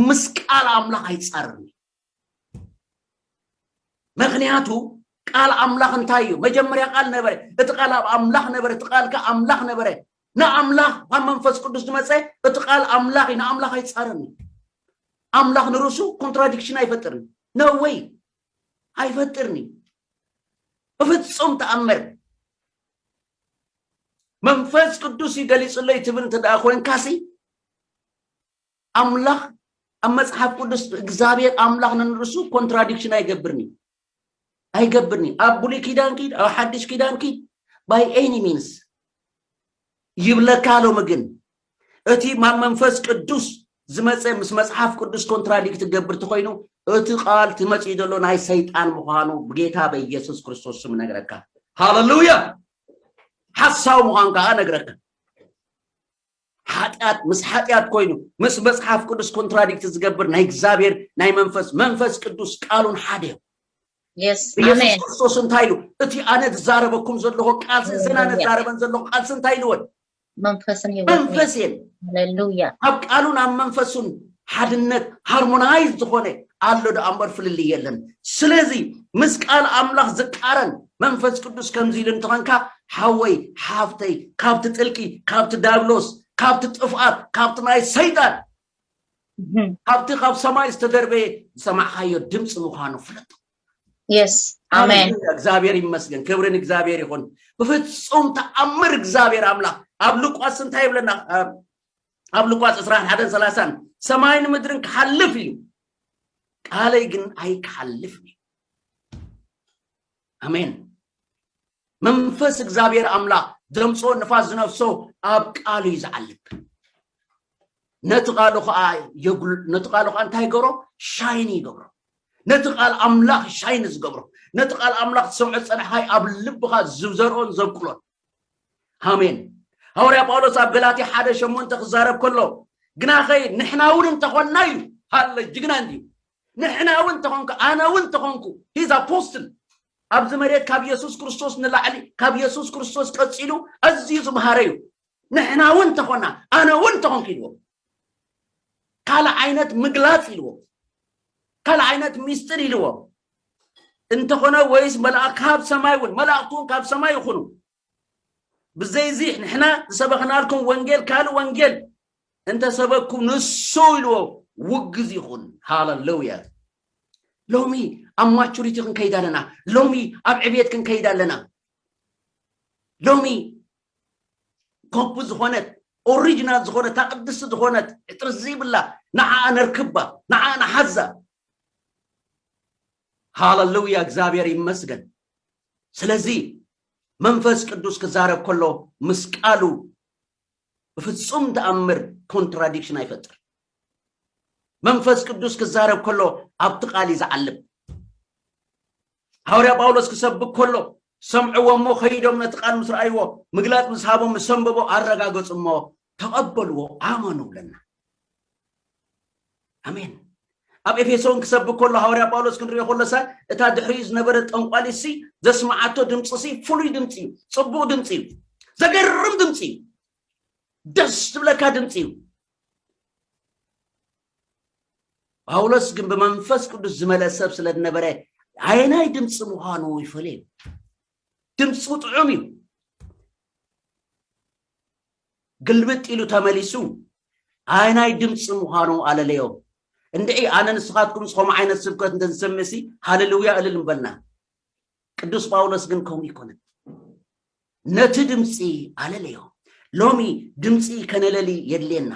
ምስ ቃል ኣምላኽ ኣይጻረርን እዩ ምክንያቱ ቃል ኣምላኽ እንታይ እዩ መጀመርያ ቃል ነበረ እቲ ቃል ኣብ ኣምላኽ ነበረ እቲ ቃል ከ ኣምላኽ ነበረ ንኣምላኽ ካብ መንፈስ ቅዱስ ዝመፀ እቲ ቃል ኣምላኽ እዩ ንኣምላኽ ኣይፃረን እዩ ኣምላኽ ንርእሱ ኮንትራዲክሽን ኣይፈጥርን ነወይ ኣይፈጥርን እዩ ብፍጹም ተኣምር መንፈስ ቅዱስ እዩ ገሊጹለይ ትብል እንተ ደኣ ኮንካሲ ኣምላኽ ኣብ መጽሓፍ ቅዱስ እግዚኣብሔር ኣምላኽ ንንርሱ ኮንትራዲክሽን ኣይገብርን እዩ ኣይገብርን እዩ ኣብ ብሉይ ኪዳን ኪድ ኣብ ሓድሽ ኪዳን ኪድ ባይ ኤኒ ሚንስ ይብለካ ሎሚ ግን እቲ ማብ መንፈስ ቅዱስ ዝመጸ ምስ መጽሓፍ ቅዱስ ኮንትራዲክት ትገብር ተኮይኑ እቲ ቃል ትመጽኡ ዘሎ ናይ ሰይጣን ምዃኑ ብጌታ በኢየሱስ ክርስቶስ ስም ነግረካ ሃለሉያ ሓሳዊ ምዃን ከዓ ነግረካ ሓጢኣት ምስ ሓጢኣት ኮይኑ ምስ መጽሓፍ ቅዱስ ኮንትራዲክት ዝገብር ናይ እግዚኣብሔር ናይ መንፈስ መንፈስ ቅዱስ ቃሉን ሓደ እዩ ኢየሱስ ክርስቶስ እንታይ ኢሉ እቲ ኣነ ዝዛረበኩም ዘለኹ ቃልሲ እዘን ኣነ ዝዛረበን ዘለኹ ቃልሲ እንታይ ኢልወን መንፈስን ህይወትን መንፈስ እየን ሃሌሉያ ኣብ ቃሉን ኣብ መንፈሱን ሓድነት ሃርሞናይዝ ዝኾነ ኣሎ ደኣ እምበር ፍልልይ የለን ስለዚ ምስ ቃል ኣምላኽ ዝቃረን መንፈስ ቅዱስ ከምዚ ኢሉ እንተኾንካ ሓወይ ሓፍተይ ካብቲ ጥልቂ ካብቲ ዳብሎስ ካብቲ ጥፍኣት ካብቲ ናይ ሰይጣን እህም፣ ካብቲ ካብ ሰማይ ዝተደርበየ ዝሰማዕካዮ ድምፂ ምዃኑ ፍለጦ የስ ኣሜን ሃሌሉያ እግዚኣብሔር ይመስገን ክብሪ ንእግዚኣብሔር ይኹን ብፍፁም ተኣምር እግዚኣብሔር ኣምላኽ ኣብ ሉቃስ እንታይ ይብለና እ፣ ኣብ ሉቃስ 21 30 ሰማይን ምድርን ክሓልፍ እዩ ቃለይ ግን ኣይክሓልፍን እዩ ኣሜን መንፈስ እግዚኣብሔር ኣምላኽ ዘምፆ ንፋስ ዝነፍሶ ኣብ ቃሉ እዩ ዝዓልብ ነቲ ቃሉ ከዓ የጉል ነቲ ቃሉ ከዓ እንታይ ይገብሮ ሻይን ይገብሮ ነቲ ቃል ኣምላኽ ሻይን ዝገብሮ ነቲ ቃል ኣምላኽ ትሰምዖ ዝጸናሕኻይ ኣብ ልብኻ ዝዘርኦን ዘብቅሎን ኣሜን ሃዋርያ ጳውሎስ ኣብ ገላትያ ሓደ ሸሞንተ ክዛረብ ከሎ ግናኸ ንሕና እውን እንተኾንና እዩ ሃለ ጅግና እንድዩ ንሕና እውን ተኾንኩ ኣነ እውን ተኾንኩ ሂዝ ኣፖስትል ኣብዚ መሬት ካብ የሱስ ክርስቶስ ንላዕሊ ካብ የሱስ ክርስቶስ ቀፂሉ ኣዝዩ ዝምሃረ እዩ ንሕና እውን እንተኾና ኣነ እውን እንተኾንኩ ኢልዎ ካልእ ዓይነት ምግላፅ ኢልዎ ካልእ ዓይነት ሚስጢር ኢልዎ እንተኾነ ወይስ መልኣ ካብ ሰማይ እውን መላእክቱ እውን ካብ ሰማይ ይኹኑ ብዘይዚ ንሕና ዝሰበኽናልኩም ወንጌል ካልእ ወንጌል እንተሰበኩም ንሱ ኢልዎ ውግዝ ይኹን ሃለሉያ ሎሚ ኣብ ማቹሪቲ ክንከይድ ኣለና ሎሚ ኣብ ዕብየት ክንከይድ ኣለና ሎሚ ኮፒ ዝኾነት ኦሪጅናል ዝኾነት እታ ቅድስቲ ዝኾነት ዕጥሪ ዘይብላ ንዓኣ ነርክባ ንዓኣ ንሓዛ ሃለሉያ እግዚኣብሔር ይመስገን ስለዚ መንፈስ ቅዱስ ክዛረብ ከሎ ምስ ቃሉ ብፍጹም ተኣምር ኮንትራዲክሽን ኣይፈጥር መንፈስ ቅዱስ ክዛረብ ከሎ ኣብቲ ቃል እዩ ዝዓልብ ሃውርያ ጳውሎስ ክሰብክ ከሎ ሰምዕዎ እሞ ከይዶም ነቲ ቃል ምስ ረኣይዎ ምግላጽ ምስ ሃቦም ምስ ሰንበቦ ኣረጋገጹ እሞ ተቐበልዎ ኣመኑ ብለና ኣሜን ኣብ ኤፌሶን ክሰብክ ከሎ ሃዋርያ ጳውሎስ ክንሪኦ ከሎሰ እታ ድሕሪኡ ዝነበረት ጠንቋሊሲ ዘስማዓቶ ድምፂሲ ፍሉይ ድምፂ እዩ ፅቡቅ ድምፂ እዩ ዘገርም ድምፂ እዩ ደስ ዝብለካ ድምፂ እዩ ጳውሎስ ግን ብመንፈስ ቅዱስ ዝመልአ ሰብ ስለ ዝነበረ ኣየናይ ድምፂ ምዃኑ ይፈልየ እዩ ድምፁ ጥዑም እዩ ግልብጥ ኢሉ ተመሊሱ ኣየናይ ድምፂ ምዃኑ ኣለለዮ እንድዒ ኣነ ንስኻትኩም ዝኾም ዓይነት ስብከት እንተንሰምዕ ሲ ሃለልውያ እልል ምበልና ቅዱስ ጳውሎስ ግን ከምኡ ይኮነን ነቲ ድምፂ ኣለለዮ ሎሚ ድምፂ ከነለሊ የድልየና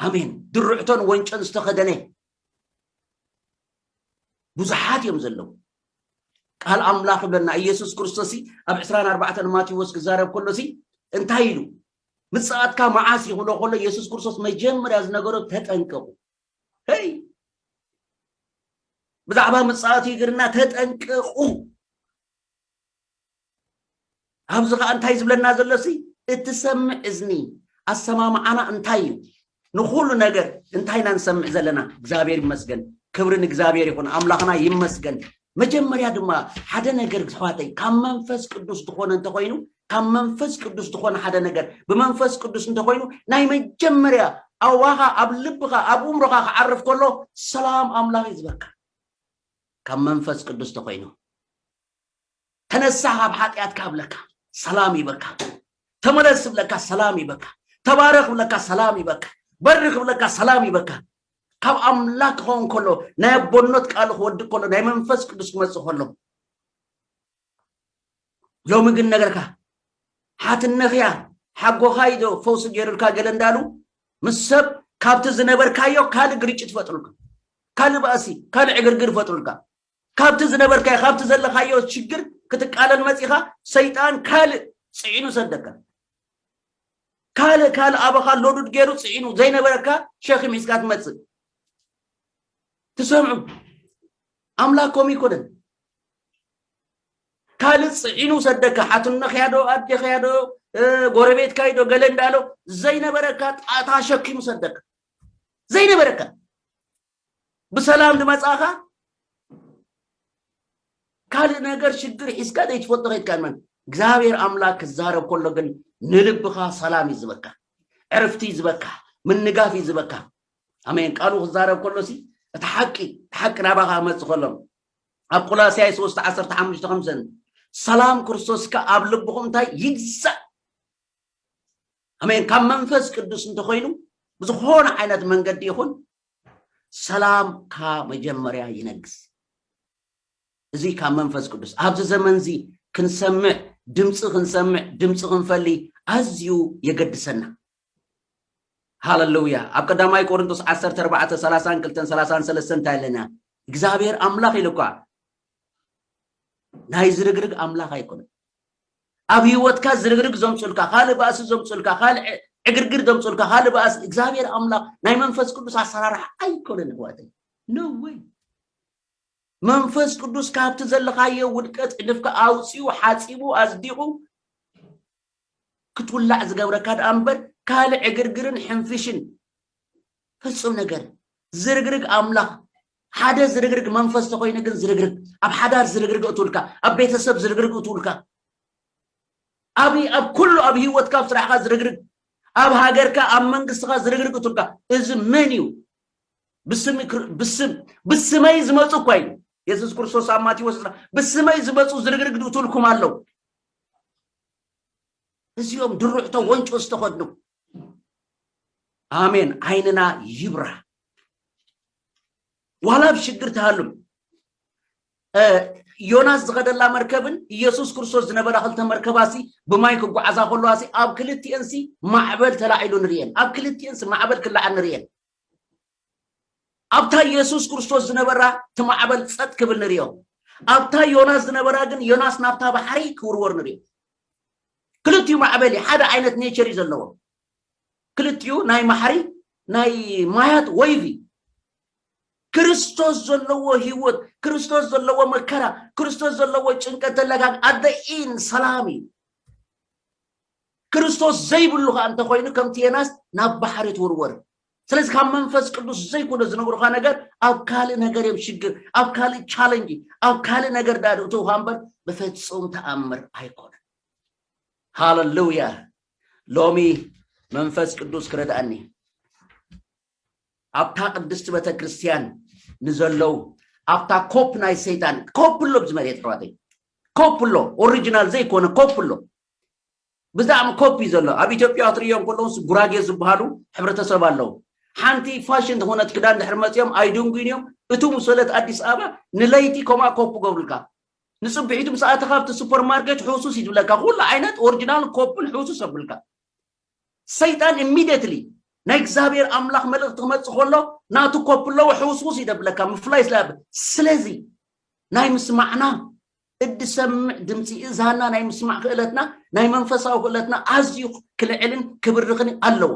ኣሜን ድርዕቶን ወንጮን ዝተኸደነ ብዙሓት እዮም ዘለዉ ቃል ኣምላኽ ይብለና ኢየሱስ ክርስቶስ ኣብ 24 ማቴዎስ ክዛረብ ከሎ ሲ እንታይ ኢሉ ምጽኣትካ መዓስ ይኽብሎ ከሎ ኢየሱስ ክርስቶስ መጀመርያ ዝነገሮ ተጠንቀቑ ይ ብዛዕባ ምጽኣቱ ይግርና ተጠንቀቑ ኣብዚ ከኣ እንታይ ዝብለና ዘሎሲ እትሰምዕ እዝኒ ኣሰማምዓና እንታይ እዩ ንኩሉ ነገር እንታይ ኢና ንሰምዕ ዘለና እግዚኣብሔር ይመስገን ክብሪ ንእግዚኣብሔር ይኹን ኣምላኽና ይመስገን መጀመርያ ድማ ሓደ ነገር ኣሕዋተይ ካብ መንፈስ ቅዱስ ዝኾነ እንተኾይኑ ካብ መንፈስ ቅዱስ ዝኾነ ሓደ ነገር ብመንፈስ ቅዱስ እንተኾይኑ ናይ መጀመርያ ኣዋኻ ኣብ ልብኻ ኣብ እምሮኻ ክዓርፍ ከሎ ሰላም ኣምላኽ እዩ ዝበካ ካብ መንፈስ ቅዱስ ተኾይኑ ተነሳህ ካብ ሓጢኣትካ እብለካ ሰላም ይበካ ተመለስ እብለካ ሰላም ይበካ ተባረኽ እብለካ ሰላም ይበካ በርኽ እብለካ ሰላም ይበካ ካብ ኣምላክ ክኸውን ከሎ ናይ ኣቦነት ቃሉ ክወድእ ከሎ ናይ መንፈስ ቅዱስ ክመፅእ ከሎ ሎሚ ግን ነገርካ ሓትነኽያ ሓጎኻ ኢዶ ፈውሲ ገይሩልካ ገለ እንዳሉ ምስ ሰብ ካብቲ ዝነበርካዮ ካልእ ግርጭት ፈጥሩልካ ካልእ ባእሲ ካልእ ዕግርግር ፈጥሩልካ ካብቲ ዝነበርካዮ ካብቲ ዘለካዮ ሽግር ክትቃለል መጺኻ ሰይጣን ካልእ ጽዒኑ ሰደካ ካልእ ካልእ ኣባኻ ሎዱድ ገይሩ ጽዒኑ ዘይነበረካ ሸኺም ሒዝካ ትመጽእ ትሰምዑ ኣምላክ ከምኡ ይኮነን ካልእ ጽዒኑ ሰደካ ሓትነኽያ ዶ ኣዴኽያ ዶ ጎረቤትካ ዶ ገለ እንዳሎ ዘይነበረካ ጣታ ሸኪሙ ሰደካ ዘይነበረካ ብሰላም ድመጻኻ ካልእ ነገር ሽግር ሒዝካ ዘይትፈልጦ ከይትካ መን እግዚኣብሔር ኣምላክ ክዛረብ ከሎ ግን ንልብኻ ሰላም እዩ ዝበካ ዕርፍቲ እዩ ዝበካ ምንጋፍ እዩ ዝበካ ኣሜን ቃሉ ክዛረብ ከሎ ሲ እቲ ሓቂ እቲ ሓቂ ናባኻ ክመፅእ ከሎ ኣብ ቆላስያይ 3 15 ከምሰን ሰላም ክርስቶስካ ኣብ ልብኹም እንታይ ይግዛእ ኣሜን ካብ መንፈስ ቅዱስ እንተኮይኑ ብዝኾነ ዓይነት መንገዲ ይኹን ሰላም ካብ መጀመርያ ይነግስ እዚ ካብ መንፈስ ቅዱስ ኣብዚ ዘመን እዚ ክንሰምዕ ድምፂ ክንሰምዕ ድምፂ ክንፈሊ ኣዝዩ የገድሰና ሃለሉያ ኣብ ቀዳማይ ቆርንጦስ 14 32 33 እንታይ ኣለና እግዚኣብሔር ኣምላኽ ኢሉ እኳ ናይ ዝርግርግ ኣምላኽ ኣይኮነን ኣብ ሂወትካ ዝርግርግ ዘምጹልካ ካልእ ባእሲ ዘምጹልካ ካልእ ዕግርግር ዘምጹልካ ካልእ ባእሲ እግዚኣብሔር ኣምላኽ ናይ መንፈስ ቅዱስ ኣሰራርሓ ኣይኮነን ኣሕዋተይ no way መንፈስ ቅዱስ ካብቲ ዘለኻዮ ውድቀት ዕድፍካ ኣውፂኡ ሓፂቡ ኣፅዲቑ ክትውላዕ ዝገብረካ ደኣ እምበር ካልእ ዕግርግርን ሕንፍሽን ፍጹም ነገር ዝርግርግ ኣምላኽ ሓደ ዝርግርግ መንፈስ ተኮይኑ ግን ዝርግርግ ኣብ ሓዳር ዝርግርግ እትውልካ ኣብ ቤተሰብ ዝርግርግ እትውልካ ኣብ ኣብ ኩሉ ኣብ ሂወትካ ኣብ ስራሕካ ዝርግርግ ኣብ ሃገርካ ኣብ መንግስትካ ዝርግርግ እትውልካ እዚ መን እዩ ብስም ብስም ብስመይ ዝመፁ እኳ ኢሉ የሱስ ክርስቶስ ኣብ ማቴዎስ ብስመይ ዝመፁ ዝርግርግ እትውልኩም ኣለው እዚኦም ድሩዕቶ ወንጮ ዝተኸድኑ ኣሜን ዓይንና ይብራ ዋላ ኣብ ሽግር ትሃሉም ዮናስ ዝኸደላ መርከብን ኢየሱስ ክርስቶስ ዝነበራ ክልተ መርከባሲ ብማይ ክጓዓዛ ከለዋሲ ኣብ ክልቲኤንሲ ማዕበል ተላዒሉ ንርእየን ኣብ ክልቲኤንሲ ማዕበል ክለዓል ንርእየን ኣብታ የሱስ ክርስቶስ ዝነበራ እቲ ማዕበል ጸጥ ክብል ንርእዮ። ኣብታ ዮናስ ዝነበራ ግን ዮናስ ናብታ ባሕሪ ክውርወር ንርእዮ። ክልቲኡ ማዕበል እዩ፣ ሓደ ዓይነት ኔቸር እዩ ዘለዎ። ክልቲኡ ናይ ማሕሪ ናይ ማያት ወይቭ እዩ። ክርስቶስ ዘለዎ ህይወት፣ ክርስቶስ ዘለዎ መከራ፣ ክርስቶስ ዘለዎ ጭንቀት ተለጋግ ኣደኢን ሰላም እዩ። ክርስቶስ ዘይብሉ ከኣ እንተኾይኑ ከምቲ ዮናስ ናብ ባሕሪ ትውርወር። ስለዚ ካብ መንፈስ ቅዱስ ዘይኮነ ዝነግሩካ ነገር ኣብ ካልእ ነገር እዮም ሽግር ኣብ ካልእ ቻለንጅ ኣብ ካልእ ነገር ዳ እተውካ እምበር ብፍፁም ተኣምር ኣይኮነን ሃለሉያ ሎሚ መንፈስ ቅዱስ ክረድኣኒ ኣብታ ቅድስቲ ቤተ ክርስቲያን ንዘለው ኣብታ ኮፕ ናይ ሰይጣን ኮፕ ኣሎ ብዝመሬት ኣሕዋተይ ኮፕ ኣሎ ኦሪጂናል ዘይኮነ ኮፕ ኣሎ ብጣዕሚ ኮፒ እዩ ዘሎ ኣብ ኢትዮጵያ ክትርእዮም ከለውስ ጉራጌ ዝብሃሉ ሕብረተሰብ ኣለው ሓንቲ ፋሽን ዝኮነት ክዳን ድሕሪ መጽዮም ኣይድንጉዩን እዮም እቱ ምስ ወለት ኣዲስ ኣበባ ንለይቲ ከምኣ ኮፒ ክገብሩልካ ንጽብሒቱ ምስ ኣተካ ኣብቲ ሱፐር ማርኬት ሕሱስ ይትብለካ ኩሉ ዓይነት ኦሪጂናል ኮፒን ሕሱስ ኣብልካ ሰይጣን ኢሚዲየትሊ ናይ እግዚኣብሔር ኣምላኽ መልእኽቲ ክመጽእ ከሎ ናቱ ኮፒ ኣለዎ ሕውስውስ ይደብለካ ምፍላይ ስለ ስለዚ ናይ ምስማዕና እድሰምዕ ድምፂ እዝሃና ናይ ምስማዕ ክእለትና ናይ መንፈሳዊ ክእለትና ኣዝዩ ክልዕልን ክብርኽን ኣለዎ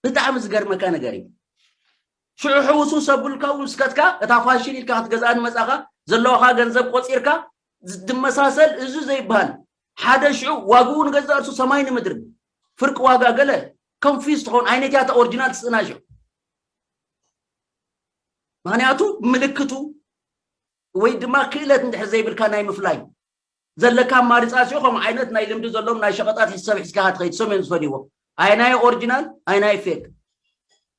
ብጣዕሚ ዝገርመካ ነገር እዩ ሽዑ ሕውሱ ሰብልካ እውን ስከትካ እታ ፋሽን ኢልካ ክትገዝኣ ንመፃኻ ዘለዋኻ ገንዘብ ቆፂርካ ዝመሳሰል እዚ ዘይበሃል ሓደ ሽዑ ዋግኡ ንገዛ እርሱ ሰማይ ንምድሪ ፍርቂ ዋጋ ገለ ኮንፊዝ ትኸውን ዓይነት እያ እታ ኦሪጂናል ትስእና ሽዑ ምክንያቱ ምልክቱ ወይ ድማ ክእለት እንድሕር ዘይብልካ ናይ ምፍላይ ዘለካ ኣማሪፃት ዮ ከምኡ ዓይነት ናይ ልምዲ ዘሎም ናይ ሸቐጣት ሕሰብ ሒዝካ ሃትኸይድ ሰም እዮም ዝፈልይዎ ኣይናይ ኦሪጂናል ኣይናይ ፌክ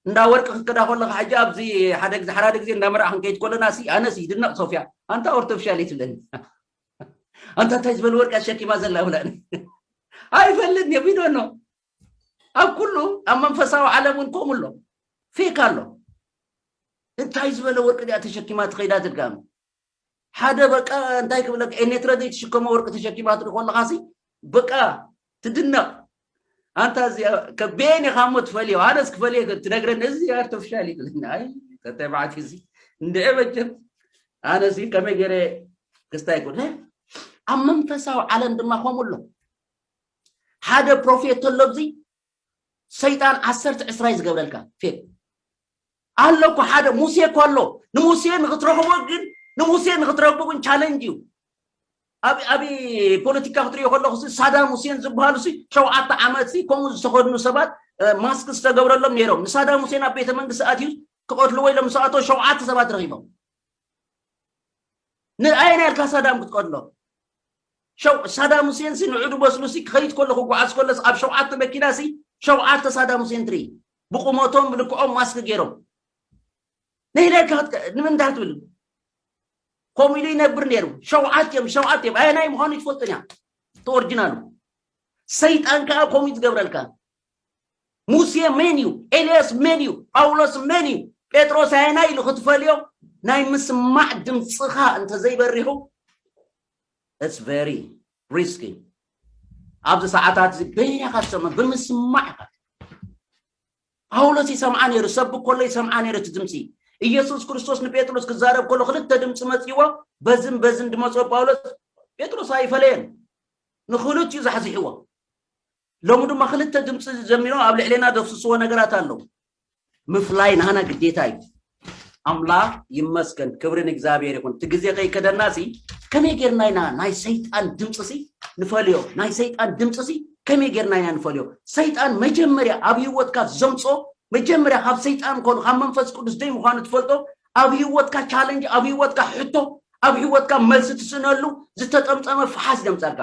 እንዳ ወርቂ ክትከዳ ከለካ ሕጂ ኣብዚ ሓደ ግዜ ሓራደ ግዜ እንዳ መርዓ ክንከይድ ከለና ሲ ኣነስ ይድነቕ ሶፍያ ኣንታ ኦርቶፊሻል እዩ ትብለኒ ኣንታ እንታይ ዝበለ ወርቂ ኣሸኪማ ዘላ ይብላኒ ኣይፈልጥን እዮም ይዶኖ ኣብ ኩሉ ኣብ መንፈሳዊ ዓለም እውን ከምኡ ኣሎ ፌክ ኣሎ እንታይ ዝበለ ወርቂ ድያ ተሸኪማ ትኸይዳ ትድጋሚ ሓደ በቃ እንታይ ክብለካ ኤኔትረ ዘይትሽከሞ ወርቂ ተሸኪማ ትርኢ ከለኻሲ በቃ ትድነቕ ኣንታ እዚኣ ከበየን ኢኻ እሞ ትፈልዮ ኣነስ ክፈልየ ትነግረኒ እዚ ኣርተፍሻል እዩ ክብለኒ ኣይ ተተባዕት እዚ እንድዐ መቸም ኣነስ ከመይ ገይረ ክስታይ ኮነ ኣብ መንፈሳዊ ዓለም ድማ ከምኡ ኣሎ ሓደ ፕሮፌት ተሎ ኣብዚ ሰይጣን ዓሰርተ ዕስራይ ዝገብረልካ ፌት ኣሎ እኮ ሓደ ሙሴ እኮ ኣሎ ንሙሴ ንክትረኽቦ ግን ንሙሴ ንክትረክቦ ግን ቻለንጅ እዩ ኣብ ኣብ ፖለቲካ ክትሪኦ ከለኹ ሳዳም ሁሴን ዝበሃሉ ሲ ሸውዓተ ዓመት ሲ ከምኡ ዝተኸድኑ ሰባት ማስክ ዝተገብረሎም ነይሮም ንሳዳም ሁሴን ኣብ ቤተ መንግስቲ ኣትዩ ክቐትልዎ ኢሎም ምስ ኣቶ ሸውዓተ ሰባት ረኺቦም ንኣየና ኢልካ ሳዳም ክትቀትሎ ሸው ሳዳም ሁሴን ሲ ንዑዱ በስሉ ሲ ክኸይድ ኮሎ ክጓዓዝ ኮሎ ሲ ኣብ ሸውዓተ መኪና ሲ ሸውዓተ ሳዳም ሁሴን ትርኢ ብቁመቶም ብልክዖም ማስክ ገይሮም ንህለካ ክትከ- ንምንታይ ትብል ከምኡ ኢሉ ይነብር ነይሩ ሸውዓት እዮም ሸውዓት እዮም ኣየናይ ምዃኑ ይትፈልጥን እያ እቲ ኦሪጂናሉ ሰይጣን ከዓ ከምኡ እዩ ዝገብረልካ ሙሴ መን እዩ ኤልያስ መን እዩ ጳውሎስ መን እዩ ጴጥሮስ ኣየናይ ኢሉ ክትፈልዮ ናይ ምስማዕ ድምፅኻ እንተዘይበሪሑ It's very risky ኣብዚ ሰዓታት እዚ በይንኻ ትሰምዕ ብምስማዕ ኢኻ ጳውሎስ ይሰምዓ ነይሩ ሰብ ኮሎ ይሰምዓ ነይሩ እቲ ድምፂ ኢየሱስ ክርስቶስ ንጴጥሮስ ክዛረብ ከሎ ክልተ ድምፂ መፅዎ በዝን በዝን ድመፅኦ ጳውሎስ ጴጥሮስ ኣይፈለየን ንክልቲኡ ዛሕዚሕዎ ሎሚ ድማ ክልተ ድምፂ ዘሚሮም ኣብ ልዕሌና ዘፍስስዎ ነገራት ኣለዉ ምፍላይ ናህና ግዴታ እዩ ኣምላኽ ይመስገን ክብሪ ንእግዚኣብሔር ይኹን እቲ ግዜ ከይከደና ሲ ከመይ ጌርና ኢና ናይ ሰይጣን ድምፂ ሲ ንፈልዮ ናይ ሰይጣን ድምፂ ሲ ከመይ ጌርና ኢና ንፈልዮ ሰይጣን መጀመርያ ኣብ ህይወትካ ዘምፆ መጀመርያ ካብ ሰይጣን ኮኑ ካብ መንፈስ ቅዱስ ደይ ምዃኑ ትፈልጦ ኣብ ህይወትካ ቻለንጅ ኣብ ህይወትካ ሕቶ ኣብ ህይወትካ መልሲ ትስእነሉ ዝተጠምጠመ ፈሓስ ደምፀልካ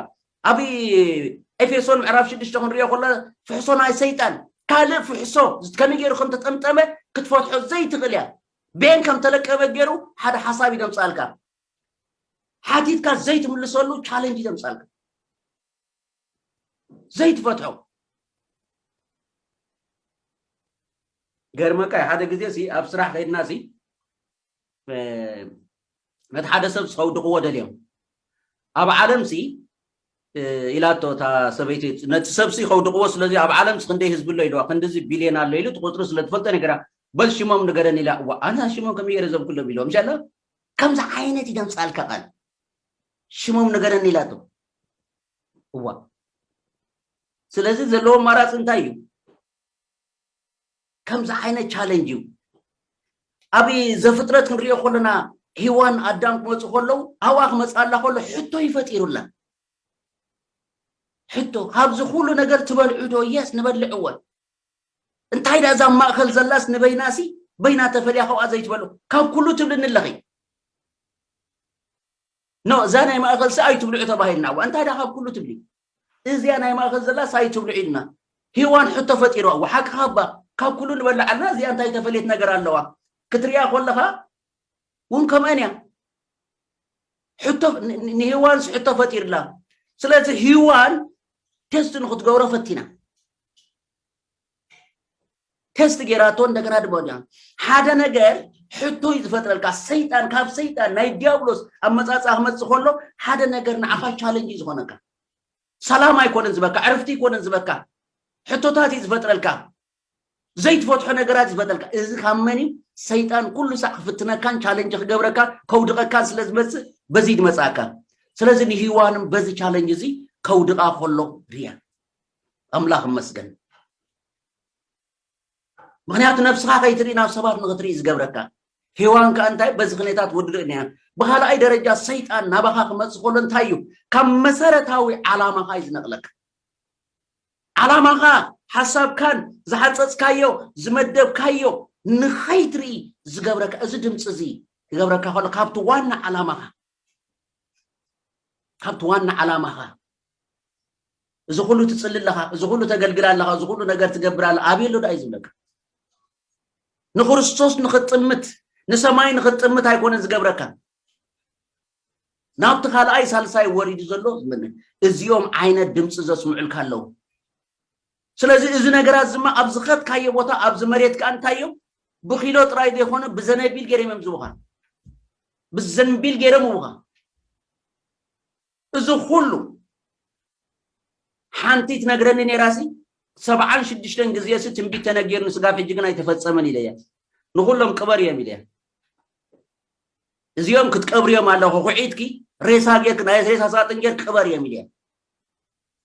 ኣብ ኤፌሶን ምዕራፍ ሽዱሽተ ክንሪኦ ከሎ ፍሕሶ ናይ ሰይጣን ካልእ ፍሕሶ ከመይ ገይሩ ከም ተጠምጠመ ክትፈትሖ ዘይትኽእል እያ ቤን ከም ተለቀበ ገይሩ ሓደ ሓሳብ እዩ ዘምፅኣልካ ሓቲትካ ዘይትምልሰሉ ቻለንጅ እዩ ዘምፅኣልካ ዘይትፈትሖ ገርመካ ሓደ ግዜ ኣብ ስራሕ ከይድና ነቲ ሓደ ሰብስ ከውድቕዎ ደልዮም ኣብ ዓለምሲ ኢላቶ እታ ሰበይቲ ነቲ ሰብሲ ከውድቕዎ ስለዚ ኣብ ዓለምሲ ክንደይ ህዝቢ ኣሎ ኢልዋ ክንዲዚ ቢልዮን ኣሎ ኢሉ እቲ ቁፅሪ ስለ ትፈልጦ ነገራ በል ሽሞም ንገረኒ ኢላ እዋ ኣነ ሽሞም ከመይ ገይረ ዘብኩሎም ኢልዎም ሻላ ከምዚ ዓይነት ይደምፃልካ ቃል ሽሞም ንገረኒ ኢላቶ እዋ ስለዚ ዘለዎ ኣማራፂ እንታይ እዩ ከምዚ ዓይነት ቻለንጅ እዩ ኣብ ዘፍጥረት ክንሪኦ ከለና ሂዋን ኣዳም ክመፁ ከለዉ ኣብኣ ክመፅኣላ ከሎ ሕቶ እዩ ፈጢሩላ ሕቶ ካብዚ ኩሉ ነገር ትበልዑ ዶ የስ ንበልዕ እወ እንታይ ዳ እዛ ማእኸል ዘላስ ንበይናሲ በይና ተፈልያ ካብኣ ዘይትበሉ ካብ ኩሉ ትብልኒ ኣለኺ ኖ እዛ ናይ ማእኸልሲ ኣይትብልዑ ተባሂልና እዋ እንታይ ዳ ካብ ኩሉ ትብሊ እዚኣ ናይ ማእከል ዘላስ ኣይትብሉ ዒልና ሂዋን ሕቶ ፈጢርዋ እው ሓቅኻ እባ ካብ ኩሉ ንበልዕ ኣልና እዚኣ እንታይ ተፈልየት ነገር ኣለዋ ክትሪኣ ኮለኻ ውን ከምኣን እያ ሕቶ ንሂዋንስ ሕቶ ፈጢርላ ስለዚ ሂዋን ቴስት ንክትገብሮ ፈቲና ተስት ጌራቶ እንደገና ድማ ዲያ ሓደ ነገር ሕቶ እዩ ዝፈጥረልካ ሰይጣን ካብ ሰይጣን ናይ ዲያብሎስ ኣመፃፅኣ ክመፅእ ከሎ ሓደ ነገር ንዓኻ ቻለንጅ እዩ ዝኾነካ ሰላም ኣይኮነን ዝበካ ዕርፍቲ ኣይኮነን ዝበካ ሕቶታት እዩ ዝፈጥረልካ ዘይትፈትሖ ነገራት ይፈጠልካ እዚ ካብ መን እዩ ሰይጣን ኩሉ ሳዕ ክፍትነካን ቻለንጅ ክገብረካ ከውድቐካን ስለ ዝመፅእ በዚ ድመፅኣካ ስለዚ ንሂዋንም በዚ ቻለንጅ እዚ ከውድቓ ከሎ ርያ ኣምላኽ ይመስገን ምክንያቱ ነብስኻ ከይትርኢ ናብ ሰባት ንክትርኢ ዝገብረካ ሄዋን ከዓ እንታይ በዚ ክኔታት ውድድእ ኒያ ብካልኣይ ደረጃ ሰይጣን ናባኻ ክመፅ ከሎ እንታይ እዩ ካብ መሰረታዊ ዓላማኻ እዩ ዝነቕለካ ዓላማኻ ሓሳብካን ዝሓፀፅካዮ ዝመደብካዮ ንኸይትርኢ ዝገብረካ እዚ ድምፂ እዚ ክገብረካ ከሎ ካብቲ ዋና ዓላማኻ ካብቲ ዋና ዓላማኻ እዚ ኩሉ ትፅሊ ኣለኻ እዚ ኩሉ ተገልግል ኣለኻ እዚ ኩሉ ነገር ትገብር ኣለ ኣብየ ኣሎ ዳእዩ ዝብለካ ንክርስቶስ ንክጥምት ንሰማይ ንክጥምት ኣይኮነን ዝገብረካ ናብቲ ካልኣይ ሳልሳይ ወሪዱ ዘሎ እዚኦም ዓይነት ድምፂ ዘስምዑልካ ኣለዉ ስለዚ እዚ ነገራት እዚ እማ ኣብ ዝኸድካዮ ቦታ ኣብዚ መሬት ከኣ እንታይ እዮም ብኪሎ ጥራይ ዘይኮነ ብዘነቢል ገይሮም እዮም ዝቡኻ ብዘንቢል ገይሮም ይቡኻ እዚ ኩሉ ሓንቲ ትነግረኒ ነይራሲ ሰብዓን ሽዱሽተን ግዜሲ ትንቢት ተነጊርኒ ስጋብ ሕጂ ግን ኣይተፈጸመን ኢለያ ንኹሎም ቅበር እዮም ኢለያ እዚኦም ክትቀብርዮም ኣለኹ ኩዒትኪ ሬሳ ጌርክ ናይ ሬሳ ሳጥን ጌር ቅበር እዮም ኢለያ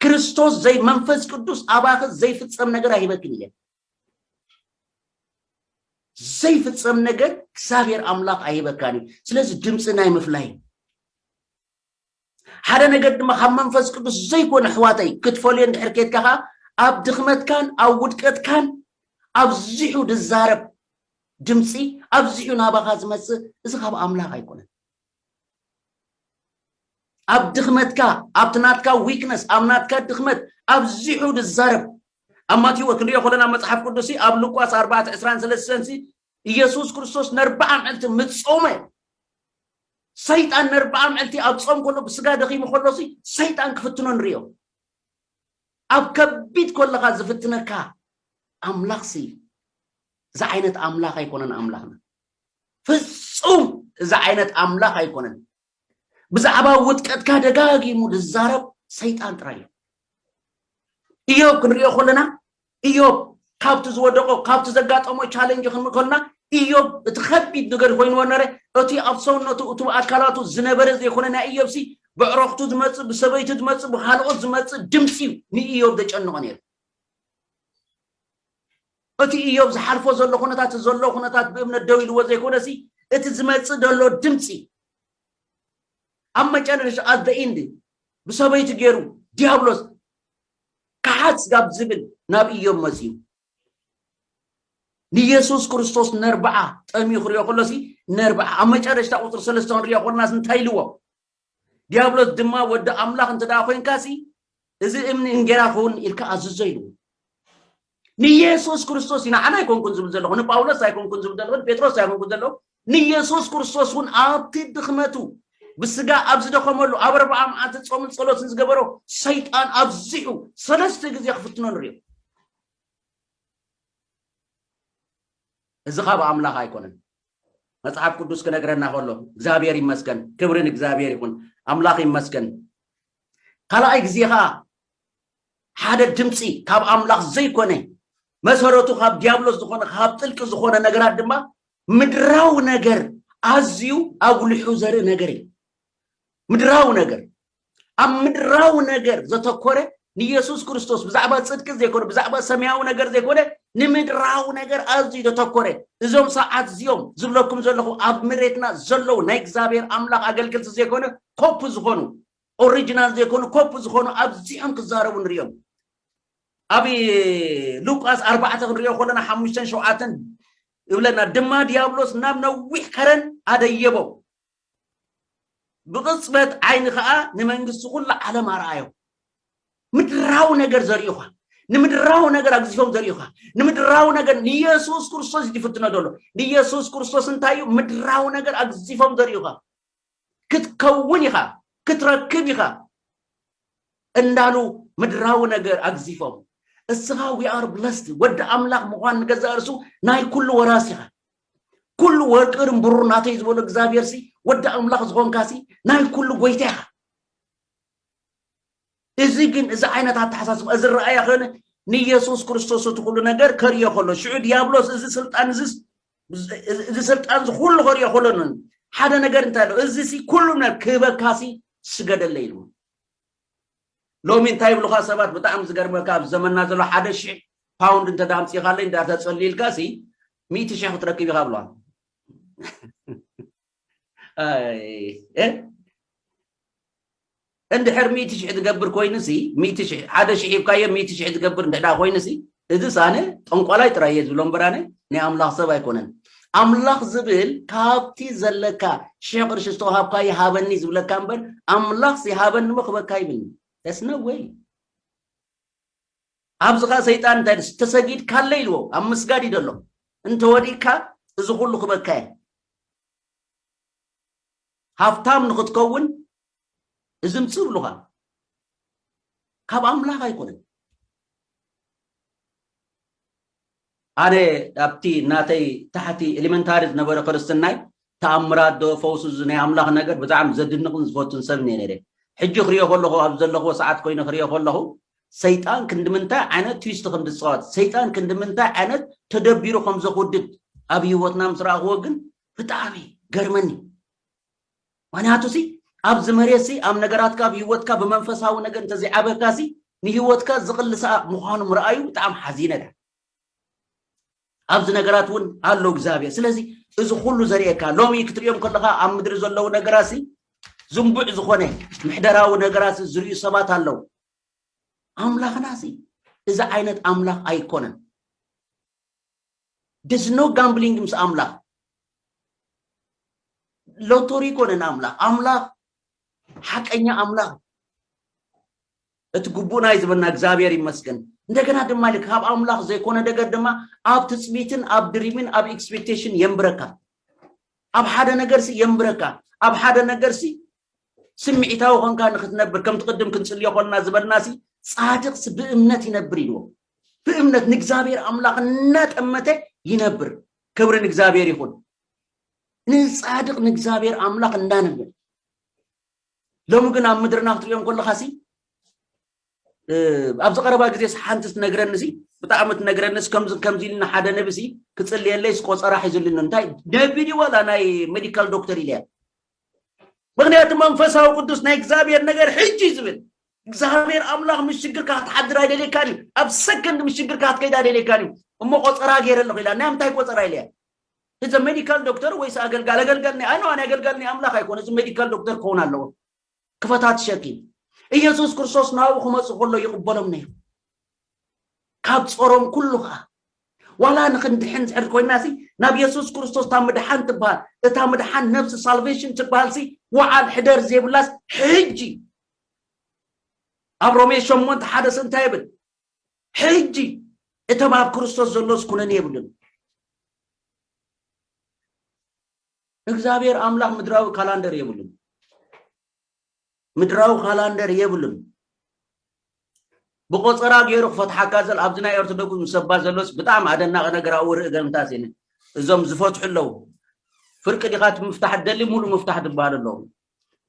ክርስቶስ ዘይ መንፈስ ቅዱስ ኣባኺ ዘይፍጸም ነገር ኣይህበክን እየ ዘይፍጸም ነገር እግዚኣብሔር ኣምላኽ ኣይህበካን እዩ ስለዚ ድምፂ ናይ ምፍላይ ሓደ ነገር ድማ ካብ መንፈስ ቅዱስ ዘይኮነ ኣሕዋተይ ክትፈልዮ እንድሕር ኬትካ ከዓ ኣብ ድኽመትካን ኣብ ውድቀትካን ኣብዚሑ ድዛረብ ድምፂ ኣብዚሑ ናባኻ ዝመፅእ እዚ ካብ ኣምላኽ ኣይኮነን ኣብ ድኽመትካ ኣብቲ ናትካ ዊክነስ ኣብ ናትካ ድኽመት ኣብዚሑ ዝዛረብ ኣብ ማቴዎ ክንሪኦ ከለና መጽሓፍ ቅዱስ ኣብ ሉቃስ ኣርባዕተ ዕስራን ሰለስተን ኢየሱስ ክርስቶስ ነርብዓ ምዕልቲ ምጾመ ሰይጣን ነርብዓ ምዕልቲ ኣብ ጾም ከሎ ብስጋ ደኺሙ ከሎ ሰይጣን ክፍትኖ ንሪኦ ኣብ ከቢድ ከለኻ ዝፍትነካ ኣምላኽሲ ዝዓይነት ኣምላኽ ኣይኮነን ኣምላኽና ፍጹም እዚ ዓይነት ኣምላኽ ኣይኮነን። ብዛዕባ ውጥቀትካ ደጋጊሙ ዝዛረብ ሰይጣን ጥራይ እዩ። እዮብ ክንሪኦ ከለና እዮብ ካብቲ ዝወደቆ ካብቲ ዘጋጠሞ ቻለንጅ ክንሪ ከለና እዮብ እቲ ከቢድ ነገር ኮይንዎ ነረ እቲ ኣብ ሰውነቱ እቲ ኣካላቱ ዝነበረ ዘይኮነ ናይ እዮብ ሲ ብዕረኽቱ ዝመፅእ ብሰበይቱ ዝመፅእ ብካልኦት ዝመፅእ ድምፂ እዩ ንእዮብ ዘጨንቆ ነይሩ እቲ እዮብ ዝሓልፎ ዘሎ ኩነታት እቲ ዘሎ ኩነታት ብእምነት ደው ኢልዎ ዘይኮነሲ እቲ ዝመጽእ ዘሎ ድምጺ ኣብ መጨረሻ ኣት ዘ ኢንድ ብሰበይቱ ገይሩ ዲያብሎስ ከሓስ ጋብ ዝብል ናብ እዮብ መጽዩ ንየሱስ ክርስቶስ ነርብዓ ጠምዩ ክሪኦ ከሎሲ ነርብዓ ኣብ መጨረሽታ ቁፅሪ ሰለስተ ክንሪኦ ከሎናስ እንታይ ኢልዎ ዲያብሎስ ድማ ወዲ ኣምላኽ እንተ ደኣ ኾይንካሲ እዚ እምኒ እንጌራ ክኸውን ኢልካ ኣዝዞ ኢልዎ ንየሱስ ክርስቶስ እዩ ንዓና ኣይኮንኩን ዝብል ዘለኹ ንጳውሎስ ኣይኮንኩን ዝብል ዘለኹ ንጴጥሮስ ኣይኮንኩን ዘለኹ ንየሱስ ክርስቶስ እውን ኣብቲ ድኽመቱ ብስጋ ኣብ ዝደኸመሉ ኣብ ኣርባዓ መዓልቲ ጾምን ጸሎትን ዝገበሮ ሰይጣን ኣብዚሑ ሰለስተ ግዜ ክፍትኖ ንሪኦ እዚ ካብ ኣምላኽ ኣይኮነን መጽሓፍ ቅዱስ ክነግረና ከሎ እግዚኣብሔር ይመስገን ክብሪ ንእግዚኣብሔር ይኹን ኣምላኽ ይመስገን ካልኣይ ግዜ ከዓ ሓደ ድምፂ ካብ ኣምላኽ ዘይኮነ መሰረቱ ካብ ዲያብሎስ ዝኾነ ካብ ጥልቂ ዝኾነ ነገራት ድማ ምድራዊ ነገር ኣዝዩ ኣጉሊሑ ዘርኢ ነገር እዩ ምድራዊ ነገር ኣብ ምድራዊ ነገር ዘተኮረ ንየሱስ ክርስቶስ ብዛዕባ ጽድቂ ዘይኮነ ብዛዕባ ሰማያዊ ነገር ዘይኮነ ንምድራዊ ነገር ኣዝዩ ዘተኮረ እዞም ሰዓት እዚኦም ዝብለኩም ዘለኹ ኣብ መሬትና ዘለዉ ናይ እግዚኣብሔር ኣምላኽ ኣገልገልቲ ዘይኮነ ኮፕ ዝኾኑ ኦሪጂናል ዘይኮኑ ኮፕ ዝኾኑ ኣብዚኦም ክዛረቡ ንሪኦም ኣብ ሉቃስ ኣርባዕተ ክንሪኦ ከለና ሓሙሽተን ሸውዓተን ይብለና ድማ ዲያብሎስ ናብ ነዊሕ ከረን ኣደየቦ ብቕጽበት ዓይኒ ከኣ ንመንግስቲ ኩሉ ዓለም ኣርኣዮም። ምድራዊ ነገር ዘርእዩኻ፣ ንምድራዊ ነገር ኣግዚፎም ዘርእዩኻ፣ ንምድራዊ ነገር ንየሱስ ክርስቶስ እዩ ዝፍትኖ ዘሎ። ንየሱስ ክርስቶስ እንታይ እዩ ምድራዊ ነገር ኣግዚፎም ዘርእዩኻ፣ ክትከውን ኢኻ፣ ክትረክብ ኢኻ እንዳሉ ምድራዊ ነገር ኣግዚፎም እስኻ ዊ ኣር ብለስድ ወዲ ኣምላኽ ምዃን ንገዛእ ርእሱ ናይ ኩሉ ወራስ ኢኻ። ኩሉ ወርቅርን ብሩር ናተይ ዝበሎ እግዚኣብሔር ሲ ወዲ ኣምላኽ ዝኾንካ ሲ ናይ ኩሉ ጎይታ ኢኻ እዚ ግን እዚ ዓይነት ኣተሓሳስባ እዚ ረኣያ ከነ ንኢየሱስ ክርስቶስ እቲ ኩሉ ነገር ከርዮ ከሎ ሽዑ ዲያብሎስ እዚ ስልጣን እዚ እዚ ስልጣን እዚ ኩሉ ከርዮ ከሎ ሓደ ነገር እንታይ ኣሎ እዚ ሲ ኩሉ ነገር ክህበካ ሲ ስገደለ ኢሉ ሎሚ እንታይ ይብሉካ ሰባት ብጣዕሚ ዝገርመካ ኣብ ዘመንና ዘሎ ሓደ ሽሕ ፓውንድ እንተ ኣምፂኻለይ እንዳ ተፀልይልካ ሲ ሚእቲ ሽሕ ክትረክብ ኢኻ ብለዋ እንድሕር ሚእቲ ሽሕ ዝገብር ኮይኑ ሲ ሚእቲ ሽሕ ሓደ ሽሕ ሂብካዮ ሚእቲ ሽሕ ዝገብር እንድሕዳ ኮይኑ ሲ እዚስ ኣነ ጠንቋላይ ጥራይ እየ ዝብሎ እምበር ኣነ ናይ ኣምላኽ ሰብ ኣይኮነን ኣምላኽ ዝብል ካብቲ ዘለካ ሽሕ ቅርሺ ዝተዋሃብካ ይሃበኒ ዝብለካ እምበር ኣምላኽ ሲ ሃበኒ እሞ ክበካ ይብልኒ ተስነወይ ኣብዚ ከኣ ሰይጣን እንታይ ኢሉስ ተሰጊድካለይ ኢልዎ ኣብ ምስጋድ እዩ ዘሎ እንተ ወዲቅካ እዚ ኩሉ ክበካ እየ ሃብታም ንክትከውን እዚ ምጽእ ብሉካ ካብ ኣምላኽ ኣይኮነን ኣነ ኣብቲ ናተይ ታሕቲ ኤሊመንታሪ ዝነበረ ክርስትናይ ተኣምራት ዶ ፈውሲ እዚ ናይ ኣምላኽ ነገር ብጣዕሚ ዘድንቕን ዝፈቱን ሰብ እየ ነይረ። ሕጂ ክሪኦ ከለኹ ኣብዚ ዘለኽዎ ሰዓት ኮይነ ክሪኦ ከለኹ ሰይጣን ክንድምንታይ ዓይነት ትዊስት ከም ዝጻወት ሰይጣን ክንድምንታይ ዓይነት ተደቢሩ ከም ዘኽውድድ ኣብ ህይወትና ምስ ረኣኽዎ ግን ብጣዕሚ ገርመኒ። ምክንያቱሲ ኣብዚ መሬትሲ ኣብ ነገራትካ ኣብ ሂወትካ ብመንፈሳዊ ነገር እንተዘይዓበካሲ ንሂወትካ ዝቅልሳ ምዃኖም ረኣዩ ብጣዕሚ ሓዚነ ድኣ ኣብዚ ነገራት እውን ኣሎ እግዚኣብሔር ስለዚ እዚ ኩሉ ዘርእየካ ሎሚ ክትሪኦም ከለካ ኣብ ምድሪ ዘለዉ ነገራሲ ዝንቡዕ ዝኾነ ምሕደራዊ ነገራት ዝርዩ ሰባት ኣለዉ ኣምላኽናሲ እዚ ዓይነት ኣምላኽ ኣይኮነን There's no gambling ምስ ኣምላኽ ሎቶሪ ኮነን ኣምላኽ ኣምላኽ ሓቀኛ ኣምላኽ እቲ ግቡእና እዩ ዝበና እግዚኣብሔር ይመስገን እንደገና ድማ ኢለ ካብ ኣምላኽ ዘይኮነ ነገር ድማ ኣብ ትፅቢትን ኣብ ድሪምን ኣብ ኤክስፔክቴሽን የንብረካ ኣብ ሓደ ነገርሲ የንብረካ ኣብ ሓደ ነገርሲ ስምዒታዊ ኮንካ ንክትነብር ከምቲ ቅድም ክንፅልዮ ኮልና ዝበልናሲ ፃድቅሲ ብእምነት ይነብር ኢልዎ ብእምነት ንእግዚኣብሔር ኣምላክ እናጠመተ ይነብር ክብሪ ንእግዚኣብሔር ይኹን ንፃድቅ ንእግዚኣብሔር ኣምላክ እንዳንብል ሎሚ ግን ኣብ ምድርና ክትሪኦም ከለካ ሲ ኣብዚ ቀረባ ግዜ ሓንቲ ትነግረኒ ሲ ብጣዕሚ ትነግረኒ ከምዚ ከምዚ ኢልና ሓደ ነቢ ሲ ክፅልየለይ ቆፀራ ሒዙልኒ እንታይ ነቢ ድዩ ዋላ ናይ ሜዲካል ዶክተር ኢለያ ምክንያቱ መንፈሳዊ ቅዱስ ናይ እግዚኣብሔር ነገር ሕጂ ዝብል እግዚኣብሔር ኣምላኽ ምስ ሽግርካ ክትሓድር ኣይደልየካን እዩ ኣብ ሰከንድ ምስ ሽግርካ ክትከይድ ኣይደልየካን እዩ እሞ ቆፀራ ገይረ ኣለኹ ኢላ ናይ ምንታይ ቆፀራ ኢለያ እዚ ሜዲካል ዶክተር ወይስ ኣገልጋል ኣገልጋል ናይ ኣነ ኣገልጋል ናይ ኣምላኽ ኣይኮነ እዚ ሜዲካል ዶክተር ክኸውን ኣለዎ ክፈታትሸኪ ኢየሱስ ክርስቶስ ናብኡ ክመጹ ከሎ ይቕበሎም ነይሩ ካብ ጾሮም ኩሉ ከዓ ዋላ ንክንድሕን ዝሕር ኮይና ሲ ናብ የሱስ ክርስቶስ እታ ምድሓን ትበሃል እታ ምድሓን ነብሲ ሳልቬሽን ትበሃል ሲ ወዓል ሕደር ዘይብላስ ሕጂ ኣብ ሮሜ ሸሞንተ ሓደስ እንታይ ይብል ሕጂ እቶም ኣብ ክርስቶስ ዘሎስ ኩነን የብሉን እግዝኣብሔር ኣምላክ ምድራዊ ካላንደር የብሉን ምድራዊ ካላንደር የብሉን ብቆፀራ ገይሩ ክፈትሓካ ዘል ኣብዚ ናይ ኦርቶዶክስ ምስ ሰባ ዘሎስ ብጣዕሚ ኣደናቂ ነገር ኣብኡ ርኢ ገልምታት እየ እዞም ዝፈትሑ ኣለዉ ፍርቂ ዲኻ ምፍታሕ ደሊ ሙሉ ምፍታሕ ዝበሃል ኣለዉ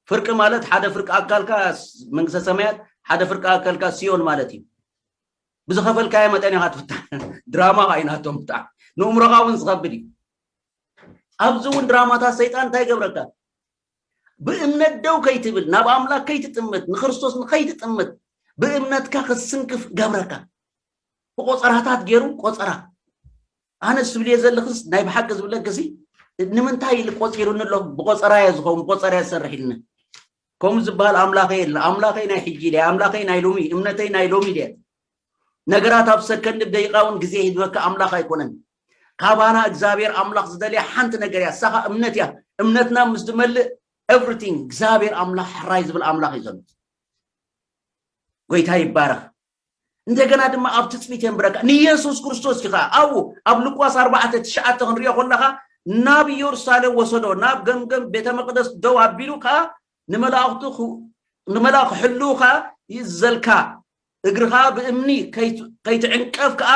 ፍርቂ ማለት ሓደ ፍርቂ ኣካልካ መንግስተ ሰማያት ሓደ ፍርቂ ኣካልካ ሲዮን ማለት እዩ ብዝኸፈልካዮ መጠን ኢኻ ትፍታሕ ድራማ ካይናቶም ብጣዕሚ ንእምሮኻ እውን ዝኸብድ እዩ ኣብዚ እውን ድራማታት ሰይጣን እንታይ ይገብረካ ብእምነት ደው ከይትብል ናብ ኣምላክ ከይትጥምት ንክርስቶስ ንከይትጥምት ብእምነትካ ክትስንክፍ ገብረካ ብቆፀራታት ገይሩ ቆፀራ ኣነ ዝብልየ ዘለክስ ናይ ብሓቂ ዝብለክሲ ንምንታይ ኢሉ ቆፂሩኒ ኣሎ ብቆፀራ እየ ዝኸውን ብቆፀራ እየ ዝሰርሕ ኢልኒ ከምኡ ዝበሃል ኣምላኸይ የለ ኣምላኸይ ናይ ሕጂ ድያ ኣምላኸይ ናይ ሎሚ እምነተይ ናይ ሎሚ ድያ ነገራት ኣብ ሰከንድ ደቂቃ እውን ግዜ ሂድበካ ኣምላኽ ኣይኮነን ካባና እግዚኣብሔር ኣምላኽ ዝደልያ ሓንቲ ነገር እያ ሳኻ እምነት እያ እምነትና ምስ ዝመልእ ኤቭሪቲንግ እግዚኣብሔር ኣምላኽ ሕራይ ዝብል ኣምላኽ እዩ ዘሎ ጎይታ ይባረኽ እንደገና ድማ ኣብ ትፅቢት የንብረካ ንየሱስ ክርስቶስ እዩ ከዓ ኣብኡ ኣብ ልቋስ ኣርባዕተ ትሽዓተ ክንሪኦ ከለካ ናብ ኢየሩሳሌም ወሰዶ ናብ ገምገም ቤተ መቅደስ ደው ኣቢሉ ከዓ ንመላእክቱ ንመላእክ ሕልው ከዓ ይእዘልካ እግርኻ ብእምኒ ከይትዕንቀፍ ከዓ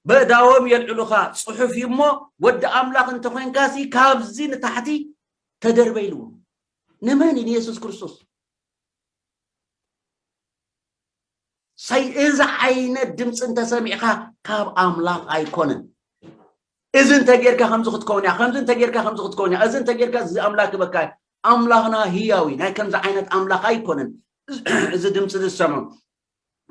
በእዳዎም የልዕሉኻ ጽሑፍ እዩ እሞ ወዲ ኣምላኽ እንተ ኾንካሲ ካብዚ ንታሕቲ ተደርበ ኢልዎ ንመን እዩ ንየሱስ ክርስቶስ ሳይ እዚ ዓይነት ድምፂ እንተሰሚዕካ ካብ ኣምላኽ ኣይኮነን እዚ እንተጌርካ ከምዚ ክትከውን እያ ከምዚ እንተጌርካ ከምዚ ክትከውን እያ እዚ እንተጌርካ እዚ ኣምላክ በካ ኣምላኽና ህያዊ ናይ ከምዚ ዓይነት ኣምላኽ ኣይኮነን እዚ ድምፂ ዝሰምዑ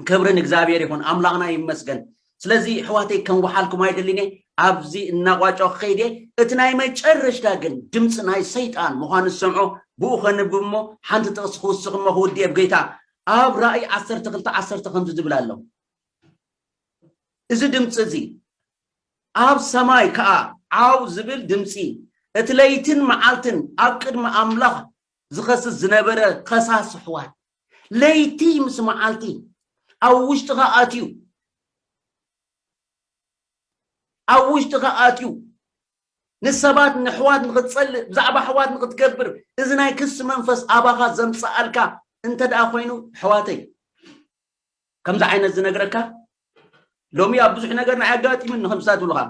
ክብሪ ንእግዚኣብሔር ይኹን ኣምላኽና ይመስገን ስለዚ ኣሕዋተይ ከንውሓልኩም ኣይደልን እየ ኣብዚ እናቋጨው ክኸይድ እየ እቲ ናይ መጨረሽታ ግን ድምፂ ናይ ሰይጣን ምዃኑ ዝሰምዖ ብኡ ከንብብ እሞ ሓንቲ ጥቕሲ ክውስኽ እሞ ክውድእ እየ ብጌታ ኣብ ራእይ ዓሰርተ ክልተ ዓሰርተ ከምዚ ዝብል ኣሎ እዚ ድምፂ እዚ ኣብ ሰማይ ከዓ ዓው ዝብል ድምፂ እቲ ለይትን መዓልትን ኣብ ቅድሚ ኣምላኽ ዝኸስስ ዝነበረ ከሳስ ኣሕዋት ለይቲ ምስ መዓልቲ ኣብ ውሽጥኻ ኣትዩ ኣብ ውሽጥኻ ኣትዩ ንሰባት ንሕዋት ንክትጸልእ ብዛዕባ ኣሕዋት ንክትገብር እዚ ናይ ክሲ መንፈስ ኣባኻ ዘምጽኣልካ እንተ ደኣ ኮይኑ ኣሕዋተይ ከምዚ ዓይነት ዝነግረካ ሎሚ ኣብ ብዙሕ ነገር ንዓይ ኣጋጢሙኒ ከምዚ ዝብሉኻ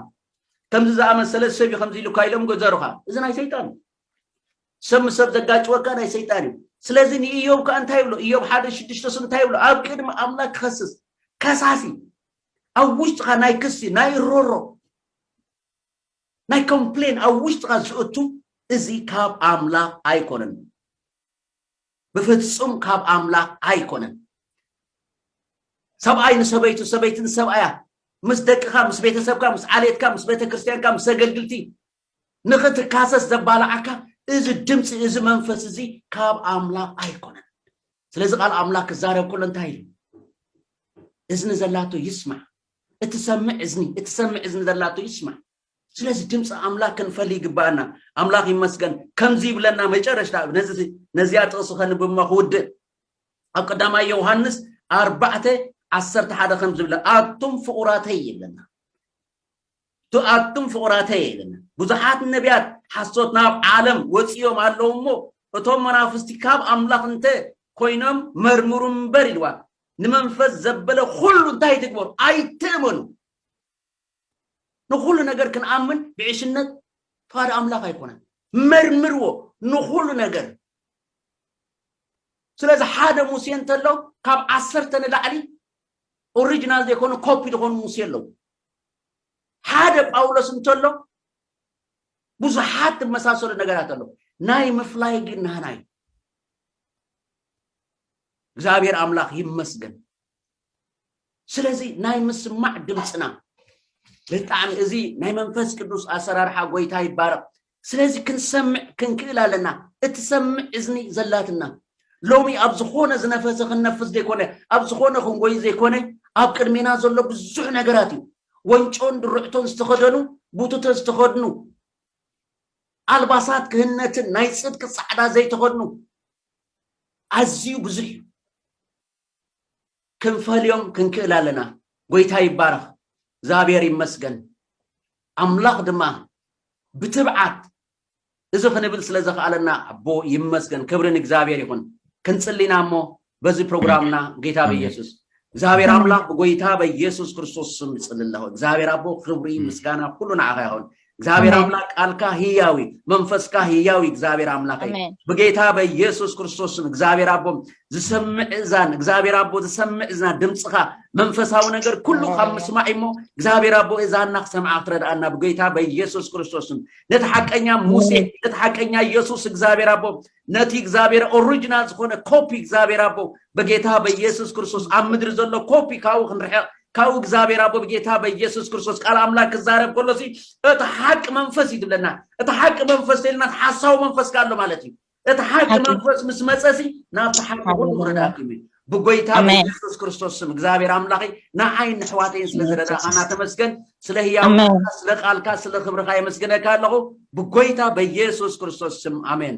ከምዚ ዝኣመሰለ ሰብ እዩ ከምዚ ኢሉካ ኢሎም ገዘሩኻ እዚ ናይ ሰይጣን እዩ ሰብ ምስ ሰብ ዘጋጭወካ ናይ ሰይጣን እዩ ስለዚ ንኢዮብ ከዓ እንታይ ይብሎ ኢዮብ ሓደ ሽዱሽተስ እንታይ ይብሎ ኣብ ቅድሚ ኣምላክ ክኸስስ ከሳሲ ኣብ ውሽጥኻ ናይ ክሲ ናይ ሮሮ ናይ ኮምፕሌን ኣብ ውሽጥኻ ዝእቱ እዚ ካብ ኣምላኽ ኣይኮነን ብፍጹም ካብ ኣምላኽ ኣይኮነን። ሰብኣይ ንሰበይቱ፣ ሰበይቲ ንሰብኣያ፣ ምስ ደቅኻ፣ ምስ ቤተሰብካ፣ ምስ ዓሌትካ፣ ምስ ቤተ ክርስቲያንካ፣ ምስ ኣገልግልቲ ንኽትካሰስ ዘባልዓካ እዚ ድምፂ እዚ መንፈስ እዚ ካብ ኣምላኽ ኣይኮነን። ስለዚ ቃል ኣምላኽ ክዛረብ ከሎ እንታይ ኢሉ? እዝኒ ዘላቶ ይስማዕ። እትሰምዕ እዝኒ እትሰምዕ እዝኒ ዘላቶ ይስማዕ። ስለዚ ድምፂ ኣምላክ ክንፈል ይግባኣና ኣምላክ ይመስገን ከምዚ ይብለና መጨረሽታ ነዚኣ ጥቕሲ ከንብማ ክውድእ ኣብ ቀዳማይ ዮውሃንስ ኣርባዕተ ዓሰርተ ሓደ ከም ዝብለ ኣቱም ፍቑራተይ ይብለና ኣቱም ፍቑራተይ ይብለና ብዙሓት ነቢያት ሓሶት ናብ ዓለም ወፂኦም ኣለዉ እሞ እቶም መናፍስቲ ካብ ኣምላኽ እንተ ኮይኖም መርምሩ እምበር ኢልዋ ንመንፈስ ዘበለ ኩሉ እንታይ ትግበሩ ኣይትእመኑ ንኹሉ ነገር ክንኣምን ብዕሽነት ፍቓድ ኣምላኽ ኣይኮነን። መርምርዎ ንኹሉ ነገር። ስለዚ ሓደ ሙሴ እንተሎ ካብ ዓሰርተ ንላዕሊ ኦሪጂናል ዘይኮኑ ኮፒ ዝኾኑ ሙሴ ኣለዉ። ሓደ ጳውሎስ እንተሎ ብዙሓት ዝመሳሰሉ ነገራት ኣለዉ። ናይ ምፍላይ ግን ናህና እዩ። እግዚኣብሔር ኣምላኽ ይመስገን። ስለዚ ናይ ምስማዕ ድምፅና ብጣዕሚ እዚ ናይ መንፈስ ቅዱስ ኣሰራርሓ ጎይታ ይባረቕ ስለዚ ክንሰምዕ ክንክእል ኣለና እትሰምዕ እዝኒ ዘላትና ሎሚ ኣብ ዝኾነ ዝነፈሰ ክንነፍስ ዘይኮነ ኣብ ዝኾነ ክንጎይ ዘይኮነ ኣብ ቅድሜና ዘሎ ብዙሕ ነገራት እዩ ወንጮን ድርዕቶን ዝተኸደኑ ቡቱተ ዝተኸድኑ ኣልባሳት ክህነትን ናይ ፅድቂ ፃዕዳ ዘይተኸድኑ ኣዝዩ ብዙሕ እዩ ክንፈልዮም ክንክእል ኣለና ጎይታ ይባረኽ እግዝኣብሔር ይመስገን ኣምላኽ ድማ ብትብዓት እዚ ክንብል ስለ ዘኽኣለና ኣቦ ይመስገን ክብሪ ንእግዚኣብሔር ይኹን ክንጽሊና እሞ በዚ ፕሮግራምና ጌታ በኢየሱስ እግዚኣብሔር ኣምላኽ ብጎይታ በኢየሱስ ክርስቶስ ስም ይጽሊ ኣለኹ እግዚኣብሔር ኣቦ ክብሪ ምስጋና ኩሉ ንዓኻ ይኹን እግዚኣብሔር ኣሜን። ኣምላክ ቃልካ ህያዊ መንፈስካ ህያዊ እግዚኣብሔር ኣምላክ እዩ ኣሜን ብጌታ በኢየሱስ ክርስቶስ ስም እግዚኣብሔር ኣቦ ዝሰምዕ እዛን እግዚኣብሔር ኣቦ ዝሰምዕ እዝና ድምፅኻ መንፈሳዊ ነገር ኩሉ ካብ ሃሌሉያ። ምስማዕ እሞ እግዚኣብሔር ኣቦ እዛና ክሰምዓ ክትረድኣና ብጌታ በኢየሱስ ክርስቶስ ስም ነቲ ሓቀኛ ሙሴ ነቲ ሓቀኛ ኢየሱስ እግዚኣብሔር ኣቦ ነቲ እግዚኣብሔር ኦሪጂናል ዝኾነ ኮፒ እግዚኣብሔር ኣቦ በጌታ በኢየሱስ ክርስቶስ ኣብ ምድሪ ዘሎ ኮፒ ካብኡ ክንርሕቕ ካብኡ እግዚኣብሔር ኣቦ ብጌታ በኢየሱስ ክርስቶስ ቃል ኣምላክ ክዛረብ ከሎ ሲ እቲ ሓቂ መንፈስ እዩ ትብለና እቲ ሓቂ መንፈስ ተልና ሓሳዊ መንፈስ ካሎ ማለት እዩ እቲ ሓቂ መንፈስ ምስ መፀ ሲ ናብቲ ሓቂ ኩሉ ክረዳእኩ እዩ ብጎይታ በኢየሱስ ክርስቶስ ስም እግዚኣብሔር ኣምላኸ ንዓይን ንሕዋተይን ስለ ዝረዳእኻና ተመስገን ስለ ህያውካ ስለ ቃልካ ስለ ክብርካ የመስግነካ ኣለኹ ብጎይታ በኢየሱስ ክርስቶስ ስም ኣሜን